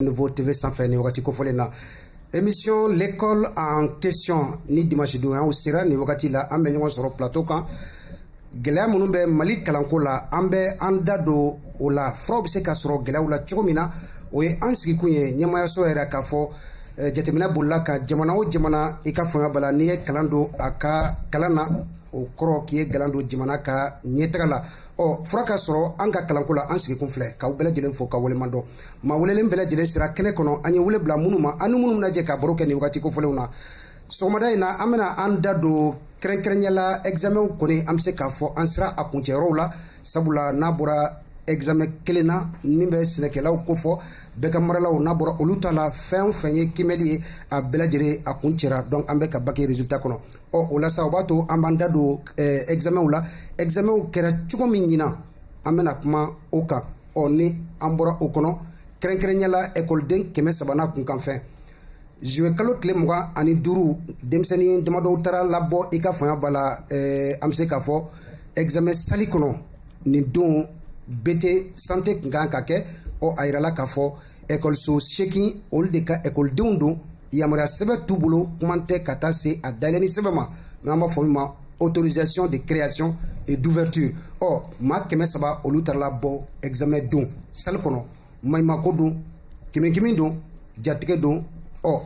nouveau TV sanfɛ nin wagati kofɔlen na émission l'école en question ni dimanche don y'aw sera nin wagati la an bɛ ɲɔgɔn sɔrɔ plateau kan gɛlɛya minnu bɛ mali kalanko la an bɛ an da don o la furaw bɛ se ka sɔrɔ gɛlɛyaw la cogo min na o ye an sigikun ye ɲɛmayaso yɛrɛ k'a fɔ eh, jateminɛ bolila kan jamana o jamana i ka fanga bala n'i ye garan don a ka kalan na o kɔrɔ k'i ye garan don jamana ka ɲɛtaga la ɔ fura ka sɔrɔ an ka kalanko la an sigikun filɛ k'aw bɛɛ lajɛlen fo ka waleɲuman dɔn maa welelen bɛɛ lajɛlen sera kɛnɛ kɔnɔ an ye wele bila minnu ma an ni minnu bɛna jɛ ka baro kɛ nin waati kofɔlenw na sɔgɔmada in na an bɛna an da don kɛrɛnkɛrɛnyala examenw kɔni an bɛ se k'a fɔ an sera a kuncɛyɔrɔw la sabula n'a bɔra examen kelen na min bɛ sɛnɛkɛlaw kofɔ baganmaralaw n'a bɔra olu ta la fɛn o fɛn ye kiimɛli ye a bɛɛ lajɛlen a kuncɛra donc an bɛ ka bac résultat kɔnɔ ɔ o la sa o b'a to an b'an da don ɛgizamɛnw la ɛgizamɛnw kɛra cogo min ɲinan an bɛna kuma o kan ɔ ni an bɔra o kɔnɔ kɛrɛnkɛrɛnya la ɛkɔliden kɛmɛ saba n'a kunkanfɛn zuluye kalo tile mugan ani duuru denmisɛnnin damadɔw taara labɔ i ka fanga b'a la eh, an bɛ se k'a fɔ ɛgizamɛn sali kɔnɔ nin don BT santé tun ka kan ka kɛ ɔ a yirala k'a fɔ ɛkɔliso seegin olu de ka ɛkɔlidenw don yamaruya sɛbɛn t'u bolo kuma tɛ ka taa se a dayɛlɛni sɛbɛn ma n'an b'a fɔ min ma autorisation de création et d'ouverture ɔ maa kɛmɛ saba olu taara labɔ examen don sali kɔnɔ maɲumako don kiminkimi don jatigɛ don ɔ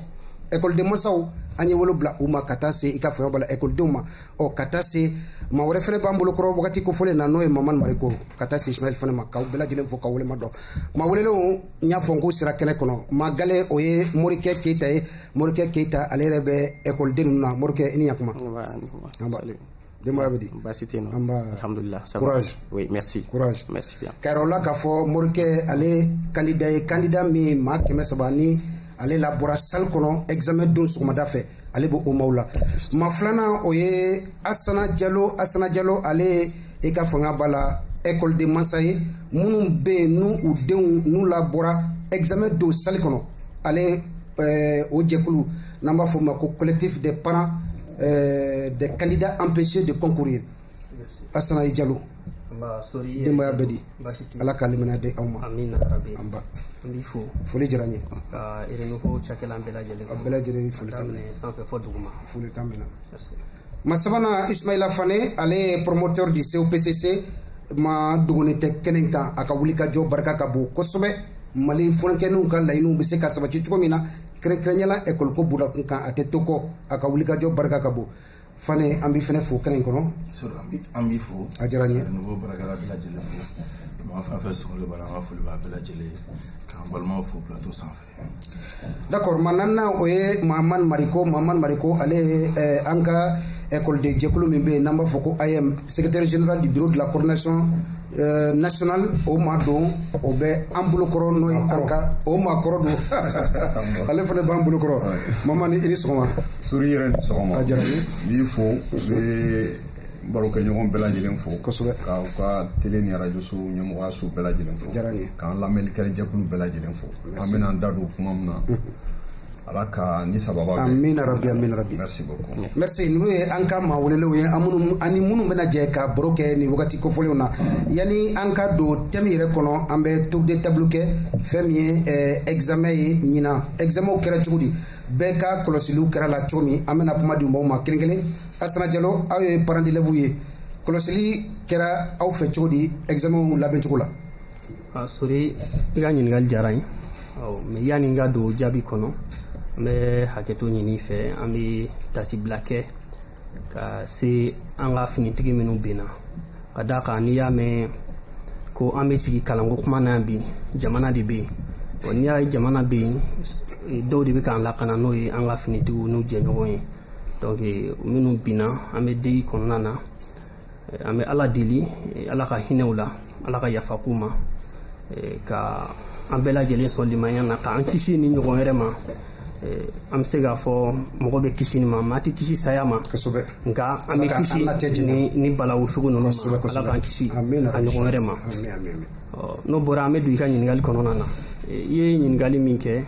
ekɔliden masaw an ye wele bila u ma ka taa se i ka fanga b'a la ekɔlidenw ma ɔ ka taa se maa wɛrɛ fɛnɛ b'an bolo kɔrɔ wagati kofɔlen na n'o ye mamani mariko ka taa se isumayila fane ma k'aw bɛɛ lajɛlen fo ka waleɲuman dɔn maa welelenw n y'a fɔ n k'u sera kɛnɛ kɔnɔ maa gale o ye morikɛ keyita ye morikɛ keyita ale yɛrɛ bɛ ɛkɔliden ninnu na morikɛ i ni yakuma denbaya bɛ di baasi tɛ yen nɔ anba alhamdulillah courage oui merci courage merci bien k'a yira o la k'a fɔ morikɛ ale kandida ye kandida min maa kɛmɛ saba ni ale labɔra salle kɔnɔ examen don sɔgɔmada fɛ ale bɛ o maaw la maa filanan o ye asana jalo asana jalo ale i ka fanga b'a la ekɔliden masa ye minnu bɛ yen n'u denw ninnu labɔra examen don sali kɔnɔ ale o jɛkulu n'an b'a f'o ma ko collectif des parents des candidats empêchés de concourir asana jalo denbaya bɛ di ala ka limaniya di aw ma anba foli diyara n ye a bɛɛ lajɛlen foli folikan minɛ maa sabanan isumayila fane ale ye promoteur du COPCC maa dogonin tɛ kɛnɛ kan a ka wuli ka jɔ barika ka bon kosɛbɛ mali funankɛninw ka laɲiniw bɛ se ka sabati cogo min na kɛrɛnkɛrɛnyala ɛkɔliko buda kun kan a tɛ to kɔ a ka wuli ka jɔ barika ka bon Fan an bɛ f fo kɛnɛ in kɔnɔ an bɛ fɔ a diyara ɲɛ bara lajɛlen fo fan fɛ so ka foli bɛɛ lajɛlen k'an balima fo bilatɔ sanfɛ da kɔrɔ ma n o ye maa mari ko ma mari ko ale an ka kolodijɛkulu min bɛ yen n'an b'a fɔ ko a ye sɛgɛte zina di duuru dilan kosɔn Euh, nationale o maa don o bɛ an bolokɔrɔ n'o ye an ka o maa kɔrɔ don ale fana b'an bolokɔrɔ Mahamane i ni sɔgɔma Sori yɛrɛ ni sɔgɔma a diyara n ye n b'i fo n bɛ barokɛɲɔgɔn bɛɛ lajɛlen fo kosɛbɛ k'aw ka tele ni arajo so ɲɛmɔgɔyaso bɛɛ lajɛlen fo diyara n ye k'an lamɛnlikɛla jɛkulu bɛɛ lajɛlen fo an bɛna an da don kuma min na Ala k'an ni sababu bɛn amiina rabi merci ninnu ye an ka maa welelenw ye ani minnu bɛna jɛ ka baro kɛ nin wagati kofɔlenw na yanni an ka don thème yɛrɛ kɔnɔ an bɛ tour de table kɛ fɛn min ye examen ye ɲinan examenw kɛra cogo di bɛɛ ka kɔlɔsiliw kɛra la cogo min an bɛna kuma di maaw ma kelen kelen Asana Diallo aw ye parents d'élèves ye kɔlɔsili kɛra aw fɛ cogo di examenw labɛncogo la A Sori i ka ɲininkali diyara n ye mais yanni n ka don jaabi kɔnɔ an bɛ hakɛto ɲini fɛ an bɛ tasibila kɛ ka se an ka finitigi minnu binna ka d'a kan n'i y'a mɛn ko an bɛ sigi kalanko kuma na yan bi jamana de bɛ yen ɔ n'i y'a ye jamana bɛ yen dɔw de bɛ k'an lakana n'o ye an ka finitigiw n'u jɛɲɔgɔn ye minnu binna an bɛ deuil kɔnɔna na an bɛ ala deli eh, ala ka hinɛ u la ala ka yafa k'u ma eh, ka an bɛɛ lajɛlen sɔn limaniya na k'an kisi nin ɲɔgɔn wɛrɛ ma eh, an bɛ se k'a fɔ mɔgɔ bɛ kisi nin ma maa tɛ kisi saya ma nka an bɛ kisi nin balawu sugu ninnu ma ala k'an kisi a ɲɔgɔn wɛrɛ ma n'o bɔra an bɛ don i ka ɲininkali kɔnɔna na i ye ɲininkali min kɛ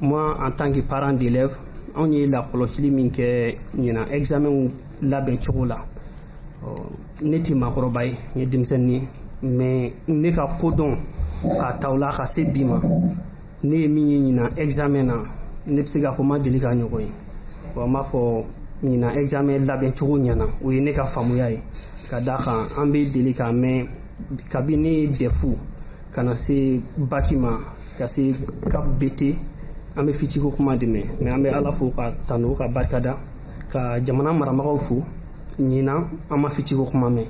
moi en tant que parent d'élève anw ye lakɔlɔsili min kɛ ɲinan examen labɛn cogo la ne tɛ maakɔrɔba ye n ye denmisɛnnin ye mais ne ka kodɔn k'a ta o la ka se bi ma ne ye min ye ɲinan examen na ne bɛ se k'a fɔ n ma deli k'a ɲɔgɔn ye wa n b'a fɔ ɲinan examen labɛn cogo ɲɛna o ye ne ka faamuya ye ka d'a kan an bɛ deli k'a mɛn kabini dɛfu ka na se baki ma ka se CAP BT an bɛ fitiko kuma de mɛn mais an bɛ ala fo k'a tanu k'a barika da ka jamana marabagaw fo ɲinan an ma fitiko kuma mɛn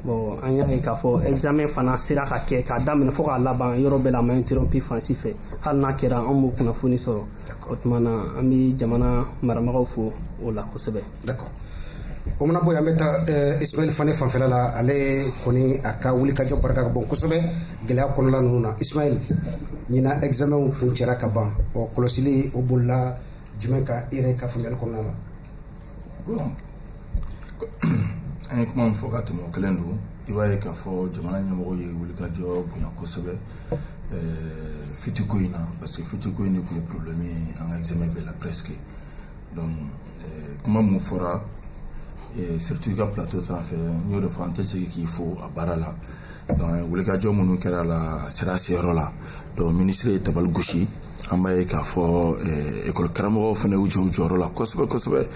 bon an y'a ye k'a fɔ examen fana sera ka kɛ k'a daminɛ fo k'a laban yɔrɔ bɛɛ la a ma interrompu fan si fɛ hali n'a kɛra an m'o kunnafoni sɔrɔ o tuma na an bɛ jamana marabagaw fo o la kosɛbɛ d'accord o mana bɔ yen an bɛ taa eh, Ismail Fane fanfɛla la ale kɔni a ka wulikajɔ barika ka bon kosɛbɛ gɛlɛya kɔnɔla ninnu na Ismail ɲinan examen kuncɛra ka ban ɔ kɔlɔsili o bolila jumɛn ka e yɛrɛ ka faamuyali kɔnɔna la bon an ye kuma min fɔ ka tɛmɛ o kelen don i b'a ye k'a fɔ jamana ɲɛmɔgɔ ye wulikajɔ bonya kosɛbɛ fitiko in na parce que fitiko in de tun ye problème ye an ka examen bɛɛ la presque donc kuma mun fɔra surtout i ka plateau sanfɛ n y'o de fɔ an tɛ segin k'i fo a baara la wulikajɔ minnu kɛra la a sera a seyɔrɔ la donc minisiri ye tabali gosi an b'a ye k'a fɔ ekɔli eh, karamɔgɔw fana y'u jɔ u jɔyɔrɔ la kosɛbɛ kosɛbɛ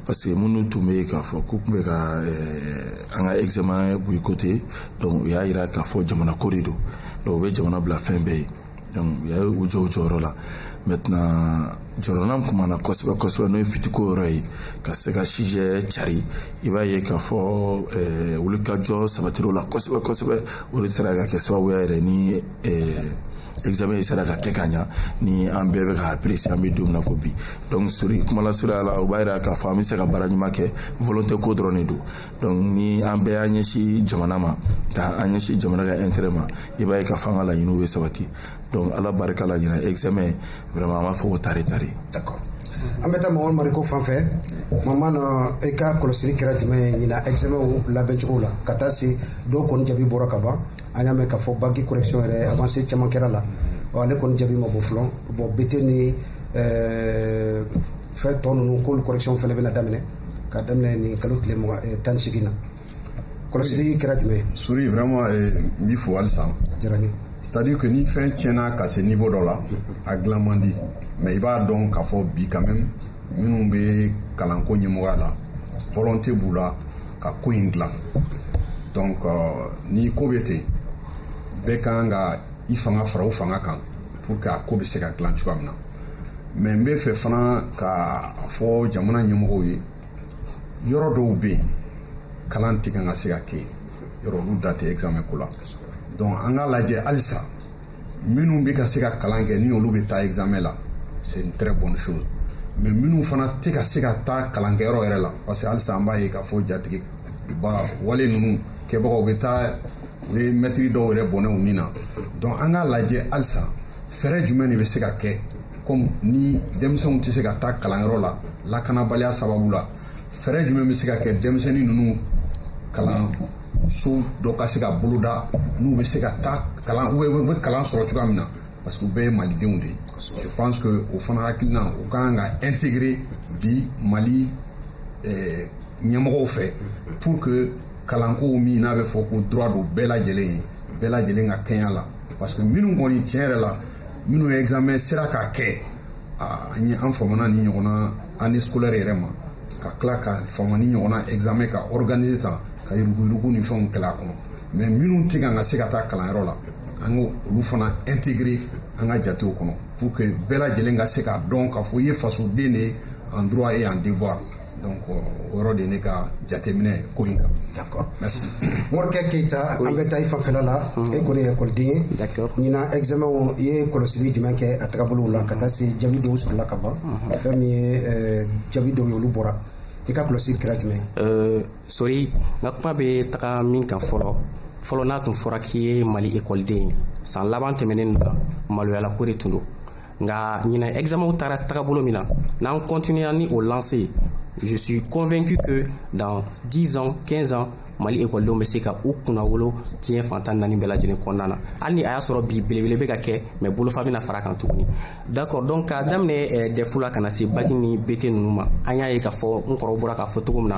parce que minnu tun bɛ yen k'a fɔ k'u tun bɛ ka eh, an ka examen boycotter donc u y'a jira k'a fɔ jamanako de don donc u bɛ jamana bila fɛn bɛɛ ɲɛ u y'u jɔ u jɔyɔrɔ la maintenant jɔrɔnanko min b'an na kosɛbɛ kosɛbɛ n'o ye fitiko yɔrɔ ye ka se ka sujet cari i b'a ye k'a fɔ eh, wulikajɔ sabatira o la kosɛbɛ kosɛbɛ o de sera ka kɛ sababuya yɛrɛ ni eh, examen sera ka kɛ ka ɲa ni an bɛɛ bɛ ka apprécier an bɛ don min na ko bi donc sori kuma lasurunya la o b'a yira k'a fɔ an bɛ se ka baara ɲuman kɛ volonté ko dɔrɔn de don donc ni an bɛɛ y'an ɲɛsin jamana ma ka an ɲɛsin jamana ka intérêt ma i b'a ye k'a fɔ an ka laɲiniw bɛ sabati donc ala barika la ɲina examen vraiment an b'a fɔ ko tare tare d'accord an bɛ taa mamadu mariko fan fɛ mamadu i ka kɔlɔsili kɛra jumɛn ye ɲina examen labɛn cogo la ka taa se dɔw kɔni jaabi bɔra ka ban an y'a mɛn k'a fɔ bac correction yɛrɛ avancé caman kɛra a la ale kɔni jaabi ma bɔ fɔlɔ bon bt ni fɛn tɔ ninnu k'olu correction fana bɛna daminɛ ka daminɛ nin kalo tile eh, tan ni segin na kɔlɔsili kɛra jumɛn ye sori vraiment eh, n b'i fo halisa diyara n ye c'est à dire que ni fɛn tiɲɛna ka se niveau dɔ la a dilan man di mais i b'a dɔn k'a fɔ bi quand même minnu bɛ kalanko ɲɛmɔgɔya la volonté b'u la ka ko in dilan donc euh, ni ko bɛ ten bɛɛ ka kan ka i fanga fara u fanga kan pour que a ko bɛ se ka dilan cogoya min na mais n bɛ fɛ fana ka fɔ jamana ɲɛmɔgɔw ye yɔrɔ dɔw bɛ yen kalan tɛ kan ka se ka kɛ yen yɔrɔ olu da tɛ examen ko la donc an k'a lajɛ halisa minnu bɛ ka se ka kalan kɛ ni olu bɛ taa examen la c'est une très bonne chose mais minnu fana tɛ ka se ka taa kalankɛyɔrɔ yɛrɛ la parce que halisa an b'a ye k'a fɔ jatigɛba wale ninnu kɛbagaw bɛ taa u ye mɛtiri dɔw yɛrɛ bɔnɛ u ni na donc an k'a lajɛ halisa fɛɛrɛ jumɛn de bɛ se ka kɛ comme ni denmisɛnw tɛ se ka taa kalanyɔrɔ la lakanabaliya sababu la fɛɛrɛ jumɛn bɛ se ka kɛ denmisɛnnin ninnu kalanso dɔ ka se ka boloda n'u bɛ se ka taa kalan u bɛ kalan sɔrɔ cogoya min na parce que u bɛɛ ye malidenw de ye je pense que o fana hakilina o ka kan ka intégrer bi mali eh, ɲɛmɔgɔw fɛ pour que kalankow min n'a bɛ fɔ ko droit don bɛɛ lajɛlen ye bɛɛ lajɛlen ka kɛɲɛ la parce que minnu kɔni tiɲɛ yɛrɛ la minnu ye examen sera k'a kɛ an ye an famana ni ɲɔgɔnna année scolaire yɛrɛ ma ka tila ka fama ni ɲɔgɔnna examen ka organiser tan ka yuruguyurugu ni fɛnw kɛlɛ a kɔnɔ mais minnu tɛ kan ka se ka taa kalanyɔrɔ la an ka olu fana intégrer an ka jatew kɔnɔ pour que bɛɛ lajɛlen ka se k'a dɔn k'a fɔ i ye fasoden de ye en droit et en devoir donc o yɔrɔ de ne ka jateminɛ ko in kan d'accord merci morikɛ keyita an bɛ taa i fanfɛla la mm. e kɔni ye ekɔliden ye d'accord ɲina examen i ye kɔlɔsili jumɛn kɛ a tagabolow la ka taa se jaabi dɔw sɔrɔla ka ban mm-hmm. fɛn min ye eh, jaabi dɔw ye olu bɔra i ka kɔlɔsili kɛra jumɛn eh, sori n ka kuma bɛ taga min kan fɔlɔ fɔlɔ n'a tun fɔra k'i ye mali ekɔliden ye san laban tɛmɛnen na maloyalako de tun don nka ɲina examenw taara tagabolo min na n'an continuera ni o lancée ye je suis convaincu que dans 10 ans 15 ans mali ekɔlidenw bɛ se ka u kunnawolo diɲɛ fan tan naani bɛɛ lajɛlen kɔnɔna na hali ni a y'a sɔrɔ bi belebele bɛ ka kɛ mais bolofa bɛna fara kan tuguni d'accord donc k'a daminɛ eh, dɛfu la ka na se baki ni bete ninnu ma an y'a ye k'a fɔ n kɔrɔw bɔra k'a fɔ cogo min na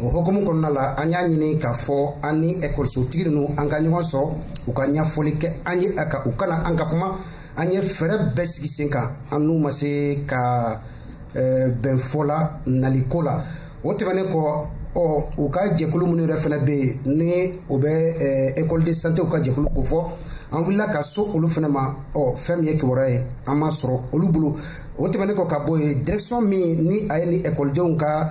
o hokumu kɔnɔna la an y'a ɲini k'a fɔ an ni ekɔlisotigi ninnu an ka ɲɔgɔn sɔrɔ u ka ɲɛfɔli kɛ an ye a kan u ka na an ka kuma an ye fɛɛrɛ bɛɛ sigi sen kan an n'u ma se ka bɛn fɔ la naliko la o tɛmɛnen kɔ ɔ u ka jɛkulu minnu yɛrɛ fana bɛ yen ni o bɛ école de santéw ka jɛkulu kofɔ an wulila ka so olu fana ma ɔ fɛn min ye kibaruya ye an m'a sɔrɔ olu bolo o tɛmɛnen kɔ ka bɔ yen direction min ni a ye ni ekɔlidenw ka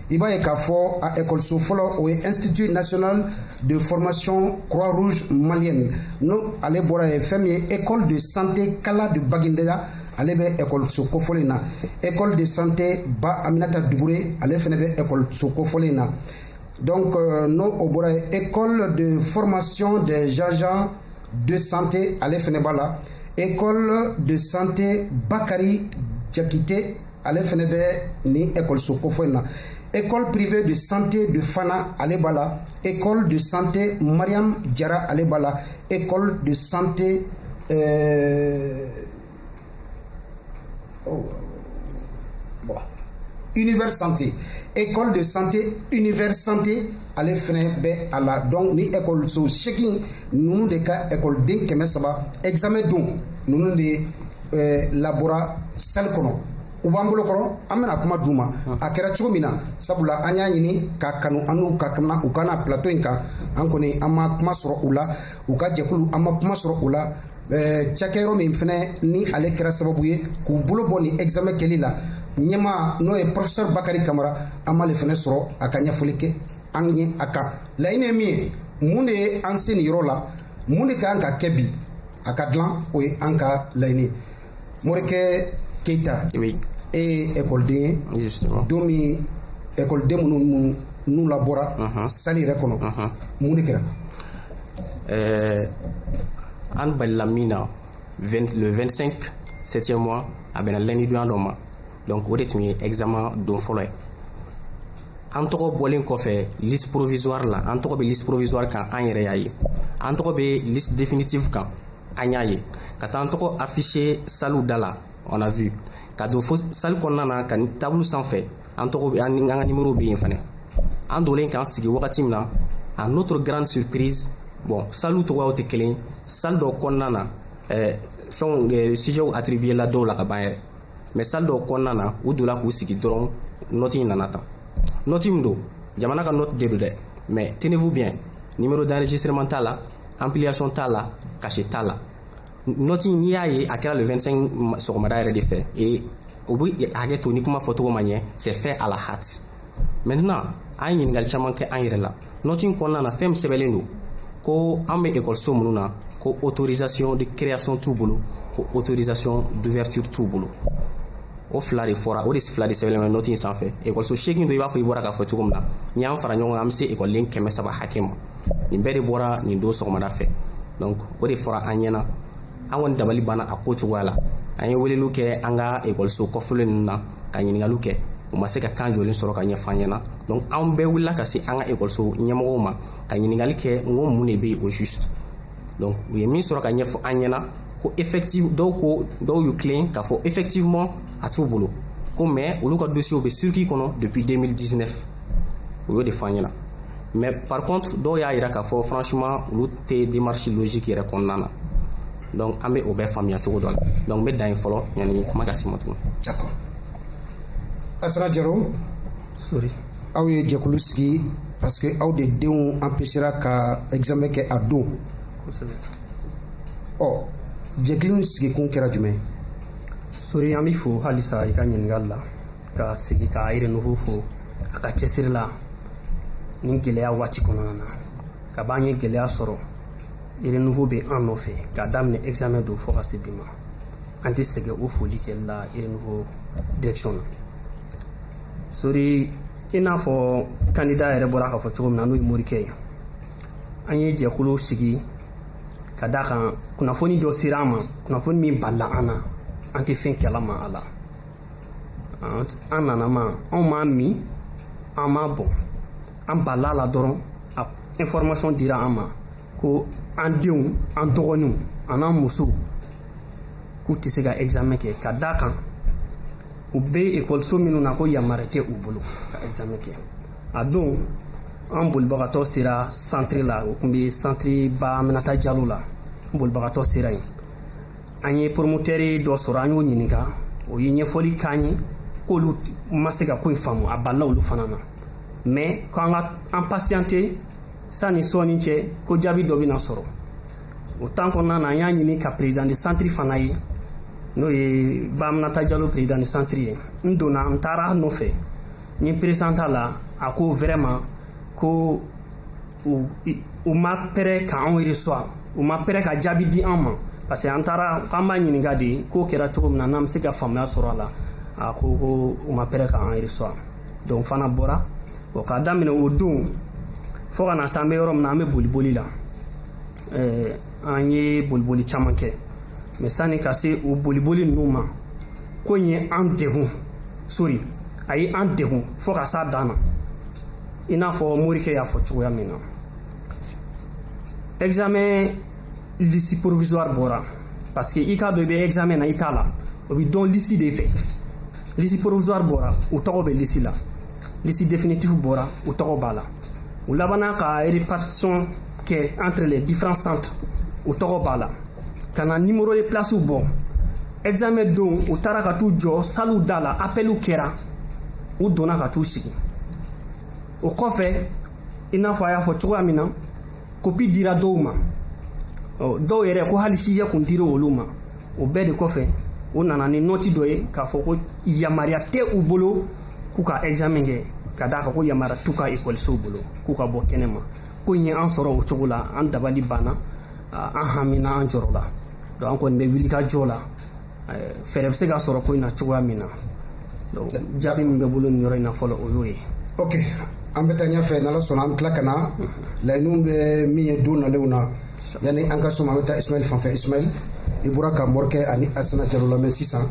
i b'a ye k'a fɔ a ekɔliso fɔlɔ o ye institut national de formation croix rouge malienne n'o ale bɔra yen fɛn min ye école de santé kala de bagineda ale bɛ ekɔliso kofɔlen na école de santé ba aminata dukure ale fana bɛ ekɔliso kofɔlen na donc euh, n'o bɔra yen école de formation des agents de santé ale fana b'a la école de santé bakari jakite ale fana bɛ nin ekɔliso kofɔlen na école privée de santé de Fana ale b'a la école de santé Mariam Jara ale b'a la école de santé euh... oh. bon. univers santé école de santé univers santé ale fana bɛ a la donc ni ekɔliso seegin ninnu de ka ekɔliden kɛmɛ saba examen don ninnu de labɔra sali kɔnɔ u b'an bolo kɔrɔ an bɛna kuma d'u ma a kɛra cogo min na sabula an y'a ɲini ka kanu an ka u ka na plateau in kan an kɔni an ma kuma sɔrɔ u la u ka jɛkulu an ma kuma sɔrɔ u la cakɛyɔrɔ min fana ni ale kɛra sababu ye k'u bolo bɔ ni examen kɛli la ɲɛma n'o ye professeur bakari kamara an m'ale fana sɔrɔ a ka ɲɛfɔli kɛ an ye a kan laɲini ye min ye mun de ye an se nin yɔrɔ la mun de ka kan ka kɛ bi a ka dilan o ye an ka laɲini ye morikɛ keyita e ye ekɔliden ye don min ekɔliden minnu n'u labɔra sali yɛrɛ kɔnɔ mun de kɛra eh, an balila min na le 25 septième mois a bɛnna lundi donya dɔ ma donc o de tun ye examen don fɔlɔ ye an tɔgɔ bɔlen kɔfɛ liste provisoire la an tɔgɔ bɛ liste provisoire kan an yɛrɛ y'a ye an tɔgɔ bɛ liste définitive kan an y'a ye ka taa an tɔgɔ afficher saliw da la on a vu ka don fo sali kɔnɔna na ka table sanfɛ an tɔgɔ bɛ an ka nimero bɛ yen fana an donlen k'an sigi wagati min na à notre grande surprise bon saliw cogoyaw tɛ kelen sali dɔ kɔnɔna na ɛɛ fɛnw sujetw attribuer la dɔw la ka ban yɛrɛ mais sali dɔw kɔnɔna na u donna k'u sigi dɔrɔn nɔti in nana tan nɔti min don jamana ka nɔti de don dɛ mais tenez-vous bien numéro d'enregistrement t'a la ampliation t'a la cachet t'a la nɔti n'i y'a ye a kɛra le 25 sɔgɔmada yɛrɛ de fɛ e aw bɛ hakɛ to ni kuma fɔcogo ma ɲɛ c'est fait à la hâte maintenant an ye ɲininkali caman kɛ an yɛrɛ la nɔti kɔnɔna na fɛn min sɛbɛnlen don ko an bɛ ekɔliso minnu na ko autorisation de création t'u bolo ko autorisation d'ouverture t'u bolo o fila de fɔra o de fila de sɛbɛnlen bɛ nɔti in sanfɛ ekɔliso seegin don i b'a fɔ i bɔra k'a fɔ cogo min na n'i y'an fara ɲɔgɔn kan an bɛ se ekɔliden kɛmɛ saba hakɛ ma nin bɛɛ de bɔra nin don sɔgɔmada fɛ donc o de fɔra an ɲɛna an kɔni dabali banna a ko cogoya la an ye weleliw kɛ an ka ekɔliso kɔfɔlen ninnu na ka ɲininkaliw kɛ u ma se ka kan jɔlen sɔrɔ ka ɲɛf'an ɲɛna donc an bɛɛ wulila ka se an ka ekɔliso ɲɛmɔgɔw ma ka ɲininkali kɛ n ko mun de bɛ yen au juste donc u ye min sɔrɔ ka ɲɛfɔ an ɲɛna ko effective dɔw ko dɔw y'u tilen k'a fɔ effectivement a t'u bolo ko mais olu ka dossiers bɛ circuit kɔnɔ depuis 2019 u y'o de fɔ an ɲɛna mais par contre dɔw y'a yira k'a fɔ franchement olu tɛ démarche logique yɛrɛ kɔnɔna na donc an bɛ o bɛɛ faamuya cogo dɔ la donc n bɛ dan yen fɔlɔ yanni kuma ka se n ma tuguni. d'accord Asana Jaro. sori. aw ye jɛkulu sigi parce que aw de denw empêchera ka examen kɛ a don. kosɛbɛ. ɔ jɛkulu in sigikun kɛra jumɛn. sori an b'i fo halisa i ka ɲininkali la. ka segin ka renouveau fo a ka cɛsiri la nin gɛlɛya waati kɔnɔna na ka b'an ye gɛlɛya sɔrɔ renouveau bɛ an nɔfɛ k'a daminɛ examen don fo ka se bi ma an tɛ sɛgɛn o foli kɛli la renouveau direction na sori i n'a fɔ kandida yɛrɛ bɔra k'a fɔ cogo min na n'o ye morikɛ ye an ye jɛkulu sigi ka d'a kan kunnafoni dɔ sera an ma kunnafoni min balila an na an tɛ fɛn kalama a la an nana ma anw m'a min an m'a bɔn an balila la dɔrɔn a information dira an ma ko an denw an dɔgɔninw an'an musow k'u tɛ se ka examen kɛ ka d'a kan u bɛ ekɔliso minnu na ko yamaruya tɛ u bolo ka examen kɛ a don an bolibagatɔ sera santiri la o tun bɛ santiri ba aminata jalo la an bolibagatɔ sera yen an ye poromoteri dɔ sɔrɔ an y'o ɲininka o ye ɲɛfɔli k'an ye k'olu ma se ka ko in faamu a balila olu fana na mɛ k'an ka an pasiyante sanni sɔɔni cɛ ko jaabi dɔ bɛna sɔrɔ o tan kɔnɔna na an y'a ɲini ka perezidan de santiri fana ye n'o ye ba aminata jalo perezidan de santiri ye n donna n taara a nɔfɛ n ye n peresant'a la a ko vraiment ko u ma pɛrɛ ka anw reçoit u ma pɛrɛ ka jaabi di an ma parce que an taara k'an b'a ɲininka de ko kɛra cogo min na n'an bɛ se ka faamuya sɔrɔ a la a ko ko u ma pɛrɛ ka an reçoit donc fana bɔra bon k'a daminɛ o don fo ka na se an bɛ yɔrɔ min na an bɛ boliboli la an ye boliboli caman kɛ mɛ sanni ka se o boliboli ninnu ma ko in ye an degun sori a ye an degun fo ka s'a dan na i n'a fɔ morikɛ y'a fɔ cogoya min na examen lisi provisoire bɔra parce que i k'a dɔn i bɛ examen na i t'a la o bɛ dɔn lisi de fɛ lisi provisoire bɔra u tɔgɔ bɛ lisi la lisi définitive bɔra u tɔgɔ b'a la u labanna ka répartition kɛ entre les différents centres u tɔgɔ b'a la ka na nimoro de plasiw bɔ examen don u taara ka t'u jɔ saliw da la apɛliw kɛra u donna ka t'u sigi o kɔfɛ i n'a fɔ a y'a fɔ cogoya min na kopi dira dɔw ma dɔw yɛrɛ ko hali sijɛ kun dira olu ma o bɛɛ de kɔfɛ u nana ni nɔti dɔ ye k'a fɔ ko yamaruya tɛ u bolo k'u ka examen kɛ ka d'a kan ko yamaruya t'u ka ekɔlisow bolo k'u ka bɔ kɛnɛ ma ko in ye an sɔrɔ o cogo la an dabali banna an hamina an jɔrɔla donc an kɔni bɛ wuli ka jɔ la fɛɛrɛ bɛ se ka sɔrɔ ko in na cogoya min na donc jaabi min bɛ bolo nin yɔrɔ in na fɔlɔ o y'o ye ok an bɛ taa ɲɛfɛ n'ala sɔnna an bɛ tila ka na laɲiniw bɛ min ye don nalenw na yanni an ka sɔn an bɛ taa ismail fanfɛ ismail i bɔra ka morikɛ ani asana jalo lamɛn sisan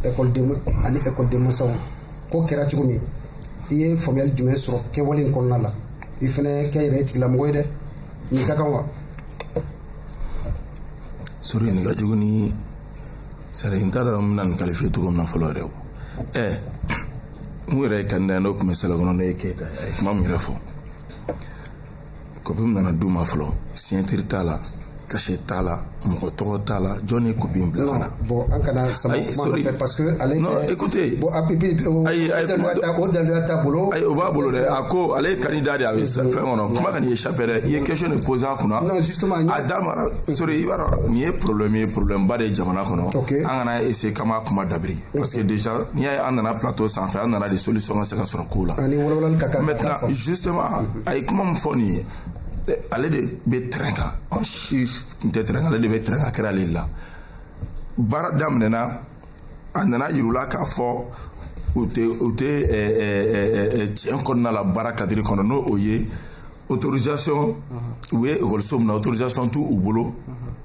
ekɔliden ani ekɔliden masaw ko kɛra cogo min i ye faamuyali jumɛn sɔrɔ kɛwale in kɔnɔna la i fana kɛ yɛrɛ ye tigilamɔgɔ ye dɛ Ni ka kan wa? Sori nin ka jugu ni c'est à dire n t'a dɔn n bɛna nin qualifier cogo min na fɔlɔ yɛrɛ o ɛ min yɛrɛ ye candidat ye n'o tun bɛ salle kɔnɔ n'o ye keyita ye a ye kuma min yɛrɛ fɔ kɔpi min nana d'u ma fɔlɔ signature t'a la cachet t'a la mɔgɔ tɔgɔ t'a la jɔn ye kɔpi in bila ka na bon an kana sama kuma nɔfɛ parce que ale non écoutez bon app ayi o daluya t'a bolo ayi o b'a bolo dɛ a ko ale ye candidat de ye a bɛ fɛn kɔnɔ kuma kan'i échapper dɛ i ye question de poser a kunna non justement a da mara sori i b'a dɔn nin ye problème ye problème ba de ye jamana kɔnɔ okay an kana essayer k'an b'a kuma dabiri parce que déjà n'i y'a ye an nana plateau sanfɛ an nana de solution ka se ka sɔrɔ ko la ani wolowolali ka kan maintenant justement a ye kuma min fɔ nin ye ale de bɛ terrain kan an si tun tɛ terrain kan ale de bɛ terrain kan kɛra ale la baara daminɛ na a nana yirula k'a fɔ u tɛ u tɛ tiɲɛ kɔnɔna la baara cadre kɔnɔ n'o o ye autorisation u ye ekɔliso min na autorisation t'u u bolo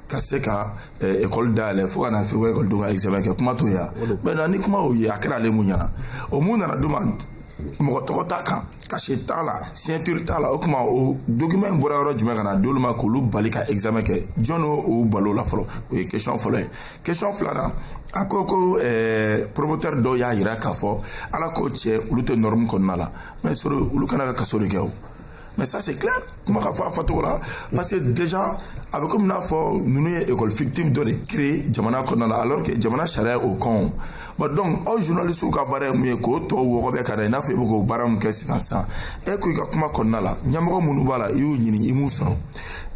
ka se ka ekɔli dayɛlɛ fo ka na se ekɔlidenw ka examen kɛ kuma t'o ye wa ni kuma y'o ye a kɛra ale min ɲɛna o min nana d'u ma mɔgɔ tɔgɔ t'a kan cachet t'a la signature t'a la o tuma o document in bɔra yɔrɔ jumɛn ka na d'olu ma k'olu bali ka examen kɛ jɔn y'u bali o la fɔlɔ o ye question fɔlɔ ye question filanan a ko ko eh, promoteur dɔw y'a yira k'a fɔ a la ko cɛ olu tɛ norme kɔnɔna la mais sori olu ka kan ka kaso de kɛ o mais ça c'est clair kuma ka fɔ a fɔcogo la parce que déjà a bɛ komi n'a fɔ ninnu ye école fictive dɔ de créer jamana kɔnɔna la alors que jamana sariya y'o kɔn bon donc aw journalistes ka baara ye mun ye k'o tɔw wɔgɔbɛ ka na i n'a fɔ i bɛ k'o baara min kɛ sisan sisan e ko i ka kuma kɔnɔna la ɲɛmɔgɔ minnu b'a la i y'u ɲini i m'u sɔrɔ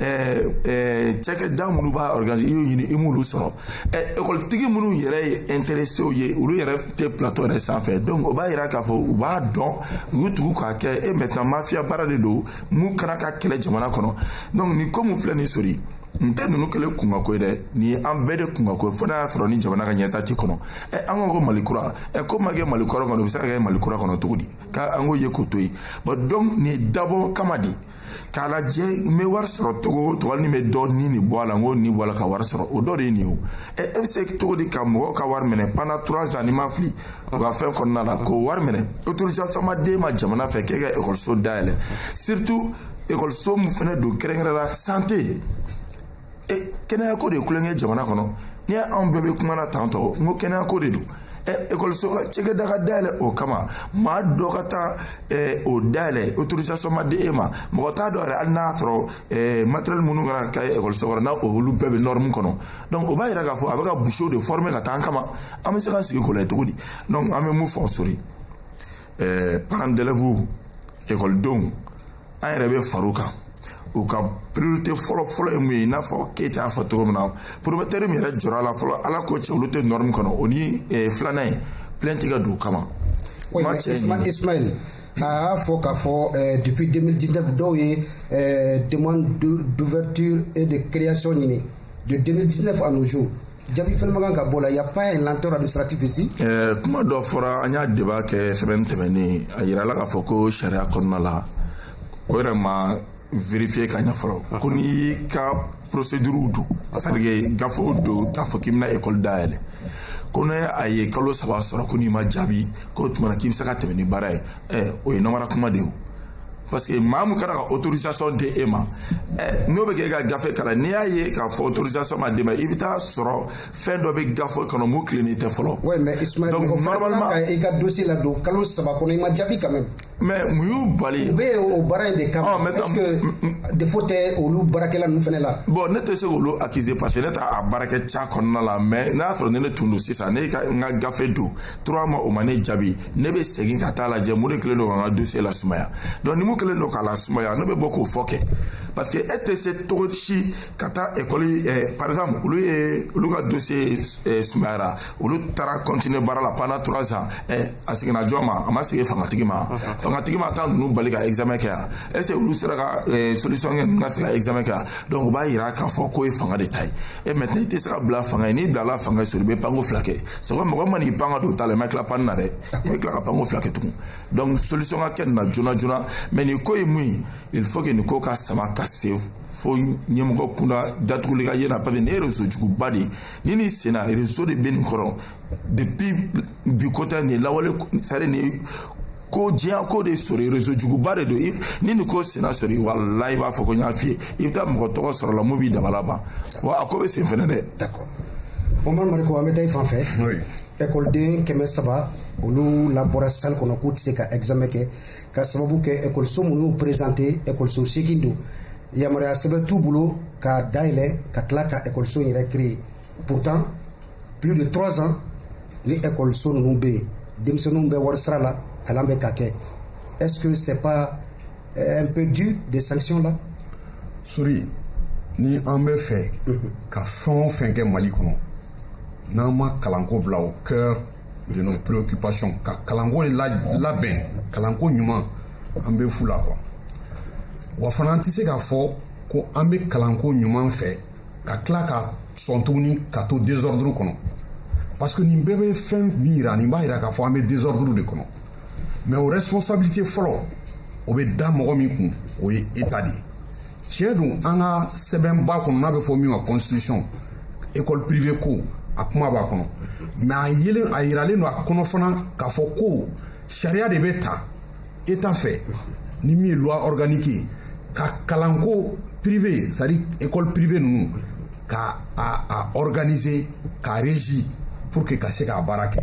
ɛɛ ɛɛ cakɛda minnu b'a organiser i y'u ɲini i m'olu sɔrɔ ekɔlitigi minnu yɛrɛ ye intéressés ye olu yɛrɛ tɛ plateau yɛrɛ sanfɛ donc o b'a yira k'a fɔ u b'a dɔn u y'u tugu k'a kɛ e maintenant mafia baara de don min ka kan ka kɛlɛ jamana kɔnɔ donc nin ko min filɛ nin sori nin tɛ ninnu kelen kunkanko ye dɛ nin ye an bɛɛ de kunkanko ye fo n'a y'a sɔrɔ ni jamana ka ɲɛtaa t'i kɔnɔ ɛ an ko ko mali kura ɛ ko ma kɛ mali kɔrɔ kɔnɔ o bɛ se ka kɛ mali kura kɔnɔ cogo di ka an k'o ye k'o to yen bon donc nin ye dabɔ kama de k'a lajɛ n bɛ wari sɔrɔ cogo o cogo hali ni n bɛ dɔ ni de bɔ a la n k'o ni bɔ a la ka wari sɔrɔ o dɔ de ye nin ye o ɛ e bɛ se cogo di ka mɔgɔw ka wari minɛ pendant trois ans ni n ma fili u ka fɛn kɔnɔna la k'o wari minɛ autorisation ma d'e ma jamana fɛ k'e ka ekɔliso dayɛlɛ surtout ekɔliso min fana don kɛrɛnkɛrɛn la santé e kɛnɛyako de ye tulonkɛ jamana kɔnɔ n'i y'anw bɛɛ bɛ kuma na tan tɔ n ko kɛnɛyako de don ekɔliso ka cakɛda ka dayɛlɛ o kama maa dɔ ka taa o dayɛlɛ autorisation ma di e ma mɔgɔ t'a dɔn yɛrɛ hali n'a sɔrɔ matériel minnu kana ka ekɔliso kɔnɔ n'a olu bɛɛ bɛ norme kɔnɔ donc o b'a yira k'a fɔ a bɛ ka bouchers de former ka taa an kama an bɛ se k'an sigi k'o lajɛ cogo di donc an bɛ mun fɔ sori parents d'élèves ekɔlidenw an yɛrɛ bɛ far'u kan u ka priorité fɔlɔ fɔlɔ ye mun ye i n'a fɔ keyita y'a fɔ cogo min na promoteur min yɛrɛ jɔra la fɔlɔ ala ko cɛ olu tɛ norme kɔnɔ o ni eh, filanan ye plainte ka don u kama Ismaël a y'a fɔ k'a fɔ eh, depuis 2019 dɔw ye eh, demande d'ouverture et de création ɲini de 2019 à nos jours jaabi fɛnɛ ma kan ka bɔ la y a pas un lenteur administratif ici eh, kuma dɔ fɔra an y'a débat kɛ semaine tɛmɛnen a yirala k'a fɔ ko sariya kɔnɔna la o yɛrɛ ma vérifier ka ɲɛ fɔlɔ ko n'i ka procédure don c'est-à-dire gafew don k'a fɔ k'i bɛna école dayɛlɛ ko n'a ye kalo saba sɔrɔ ko n'i ma jaabi k'o tuma na k'i bɛ se ka tɛmɛ ni baara ye ɛ o ye namara kuma de ye parce que maa min kana ka autorisation di e ma ɛ n'o bɛ kɛ e ka gafe kalan n'i y'a ye k'a fɔ autorisation ma d'i ma i bɛ taa sɔrɔ fɛn dɔ bɛ gafe kɔnɔ mun tilennen tɛ fɔlɔ. oui mais Ismaël mɔgɔ fana man kan ka i ka dossier ladon kalo saba kɔnɔ i ma jaabi quand même. mais mun y'u bali. u bɛ o baara in de kama. ɔ est ce que défaut tɛ olu baarakɛla ninnu fana la. bon ne tɛ se k'olu accuser parce que ne t'a baarakɛ ca kɔnɔna la mais n'a sɔrɔ ni ne tun don sisan ne ka n ka gafe don trois mois o ma ne jaabi ne bɛ segin ka taa lajɛ mun de kɛlen don ka n ka dossier lasumaya donc ni mun kɛlen don k'a lasumaya ne bɛ bɔ k'o fɔ kɛ parce que e tɛ se cogo si ka taa ekɔli eh, par exemple olu ye olu ka dossier eh, sumayara olu taara continuer baara la pendant trois ans eh, a seginna jɔn ma a ma segin fangatigi ma fangatigi ma taa ninnu bali ka examen kɛ yan est ce que olu sera ka eh, solution kɛ ninnu ka se ka examen kɛ yan donc o b'a yira k'a fɔ k'o ye fanga de ta ye e maintenant i tɛ se ka bila fanga ye n'i bilala fanga ye sori i bɛ panko fila kɛ c'est vrai mɔgɔ man'i pan ka don ta la i ma tila panni na dɛ i bɛ tila ka panko fila kɛ tugun donc solution ka kɛ nin na joona joona mais nin ko ye mun ye il faut que nin ko ka sama ka se fo ɲɛmɔgɔ kunda datuguli ka ye na parce que nin ye réseau juguba de ye ni nin senna réseau de bɛ nin kɔrɔ depuis bi ko tɛ nin lawale c'est à dire nin ko diɲɛ ko de sɔrɔ réseau juguba de don ni nin ko senna sɔrɔ walayi i b'a fɔ ko n y'a f'i ye i bɛ taa mɔgɔ tɔgɔ sɔrɔ la mun b'i dabali ban wa a ko bɛ sen fɛnɛ dɛ d'accord Omar Mariko an bɛ taa i fan fɛ ekɔliden kɛmɛ saba olu labɔra salle kɔnɔ k'u tɛ se ka examen kɛ ka sababu kɛ ekɔliso minnu y'u présenter ekɔliso seegin don yamaruya sɛbɛn t'u bolo ka dayɛlɛ ka tila ka ekɔliso yɛrɛ créer Pourtant plus de 3 ans ni école so ninnu bɛ yen denmisɛnninw bɛ wari sara la kalan bɛ ka kɛ est ce que c'est pas euh, un peu dur des sanctions là sori ni an bɛ fɛ ka fɛn o fɛn kɛ mali kɔnɔ n'an ma kalanko bila au cœur de nos préoccupations ka kalanko labɛn kalanko ɲuman an bɛ fu la quoi wa fana an tɛ se k'a fɔ ko an bɛ kalanko ɲuman fɛ ka tila ka sɔn tuguni ka to désordre kɔnɔ parce que nin bɛɛ bɛ fɛn min yira nin b'a yira k'a fɔ an bɛ désordre de kɔnɔ mais o responsabilité fɔlɔ o bɛ da mɔgɔ min kun o ye état de ye tiɲɛ don an ka sɛbɛnba kɔnɔ n'a bɛ fɔ min ma constitution école privée ko a kuma b'a kɔnɔ mais a yelen a yiralen don a kɔnɔ fana k'a fɔ ko sariya de bɛ ta état fɛ ni min ye loi organique ye ka kalanko privé c'est à dire école privé ninnu ka a a organiser ka régir pour que ka se k'a baara kɛ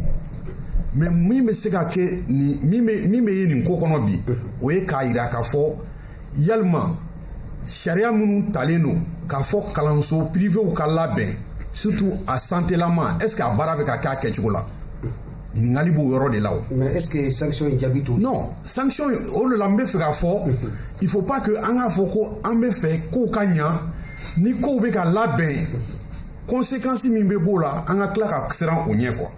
mais min bɛ se ka kɛ nin min bɛ min bɛ ye nin ko kɔnɔ bi o ye k'a yira k'a fɔ yalima sariya minnu talen don k'a fɔ kalanso pirivew ka labɛn surtout a santelama est ce que a baara bɛ ka kɛ a kɛcogo la ɲininkali b'o yɔrɔ de la o. mais est ce que sanction in jaabi t'o. non sanction o de la n bɛ fɛ k'a fɔ. il faut pas que an k'a fɔ ko an bɛ fɛ kow ka ɲa ni kow bɛ ka labɛn conséquence min bɛ b'o la an ka tila ka siran o ɲɛ quoi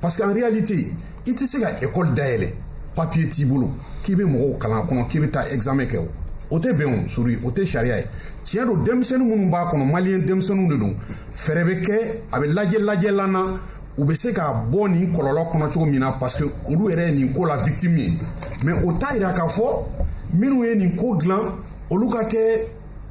parce que en réalité i tɛ se ka école dayɛlɛ papier t'i bolo k'i bɛ mɔgɔw kalan a kɔnɔ k'i bɛ taa examen kɛ o o tɛ bɛn o sori o tɛ sariya ye tiɲɛ don denmisɛnnin minnu b'a kɔnɔ maliyɛn denmisɛnninw de don fɛɛrɛ bɛ kɛ a bɛ lajɛ lajɛlan na. u bɛ se ka bɔ nin kɔlɔlɔ kɔnɔ cogo min na parce que olu yɛrɛ ye nin ko la victime ye mais o t'a yira k'a fɔ minnu ye nin ko dilan olu ka kɛ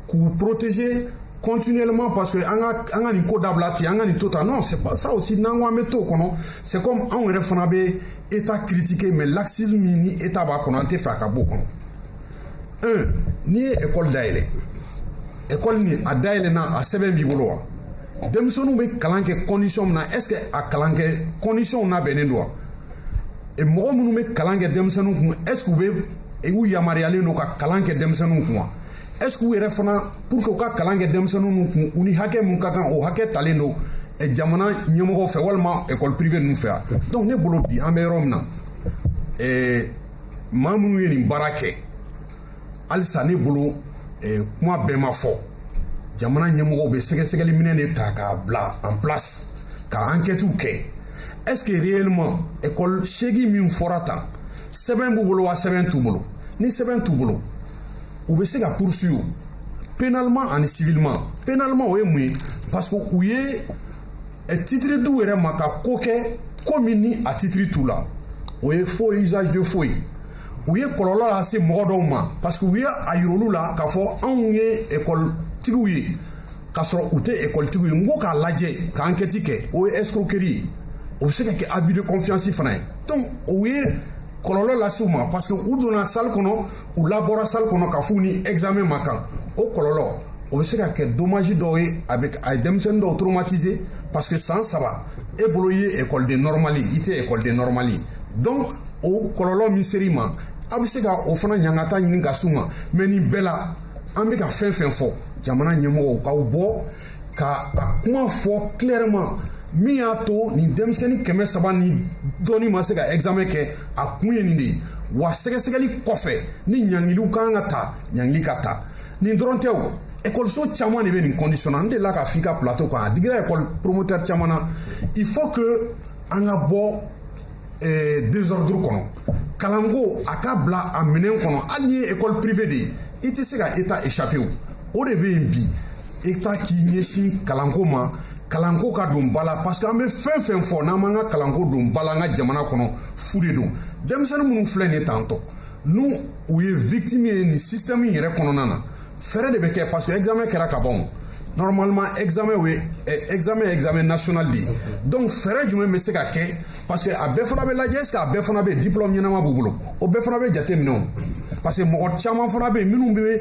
k'u protéger continuellement parce que an ka an ka nin ko dabila ten an ka nin to tan non c'est pas ça aussi n'an ko an bɛ t'o kɔnɔ c'est comme anw yɛrɛ fana bɛ état critiquer mais laxisme min ni état b'a kɔnɔ an tɛ fɛ a ka b'o kɔnɔ un n'i ye ekɔli dayɛlɛ ekɔli nin a dayɛlɛna a sɛbɛn b'i bolo wa denmisɛnninw bɛ kalan kɛ condition min na est ce que a kalan kɛ condition labɛnnen don wa mɔgɔ minnu bɛ kalan kɛ denmisɛnninw kun est ce que u bɛ u yamaruyalen don ka kalan kɛ denmisɛnninw kun wa est ce que u yɛrɛ fana pour que u ka kalan kɛ denmisɛnninw kun u ni hakɛ min ka kan o hakɛ talen don jamana ɲɛmɔgɔw fɛ walima ekɔli prive ninnu fɛ yan donc ne bolo bi an bɛ yɔrɔ min na ɛɛ maa minnu ye nin baara kɛ halisa ne bolo eh, kuma bɛɛ ma fɔ jamana ɲɛmɔgɔw bɛ sɛgɛsɛgɛli minɛn de ta k'a bila en place ka ankɛtiw kɛ est ce que réellement école seegin min fɔra tan sɛbɛn b'u bolo wa sɛbɛn t'u bolo ni sɛbɛn t'u bolo u bɛ se ka poursuivre pénalement ani civilement pénalement o ye mun ye parce que u ye ɛ titiri d'u yɛrɛ ma ka ko kɛ ko min ni a titiri t'u la o ye faux usage de faux ye u ye kɔlɔlɔ lase mɔgɔ dɔw ma parce que u ye a yir'olu la k'a fɔ anw ye ekɔlitigiw ye k'a sɔrɔ u tɛ ekɔlitigiw ye n ko k'a lajɛ ka ankɛti kɛ o ye escroquerie ye o bɛ se ka kɛ abus de confiance fana ye donc o ye kɔlɔlɔ lase u ma parce que u donna salle kɔnɔ u labɔra salle kɔnɔ k'a f'u ni examen man kan o kɔlɔlɔ o bɛ se ka kɛ dommage dɔw ye a bɛ a ye denmisɛnnin dɔw traumatiser parce que san saba e bolo i ye ekɔliden nɔrɔmali ye i tɛ ekɔliden nɔrɔmali ye donc o kɔlɔlɔ min ser'i ma a bɛ se ka o fana ɲangata ɲini ka s'u ma mais nin bɛɛ la an bɛ ka fɛn fɛn fɔ jamana ɲɛmɔgɔw k'aw bɔ ka a kuma fɔ clairement min y'a to nin denmisɛnnin kɛmɛ saba ni dɔɔni ma se ka examen kɛ a kun ye nin de ye wa sɛgɛsɛgɛli kɔfɛ ni ɲangiliw ka kan ka ta ɲangili ka ta nin dɔrɔn tɛ o ekɔliso caman de bɛ nin condition na n delila k'a f'i ka plateau kan a digira ekɔli promoteur caman na il faut que an ka bɔ eh, désordre kɔnɔ kalanko a ka bila a minɛn kɔnɔ hali n'i ye ekɔli privé de ye i tɛ se ka état échapper o o de bɛ yen bi état k'i ɲɛsin kalanko ma kalanko ka don ba la parce que an bɛ fɛn fɛn fɔ n'an m'an ka kalanko don ba la an ka jamana kɔnɔ fu de don denmisɛnnin minnu filɛ nin ye étant donné u ye victime ye nin système yɛrɛ kɔnɔna na fɛɛrɛ de bɛ kɛ parce que examen kɛra ka ban normalement examen o ye eh, examen examen national de ye donc fɛɛrɛ jumɛn bɛ se ka kɛ parce que a bɛɛ fana bɛ lajɛ est ce que a bɛɛ fana bɛ diplôme ɲɛnama b'u bolo o bɛɛ fana bɛ jate minɛ o parce que mɔgɔ caman fana bɛ yen minnu bɛ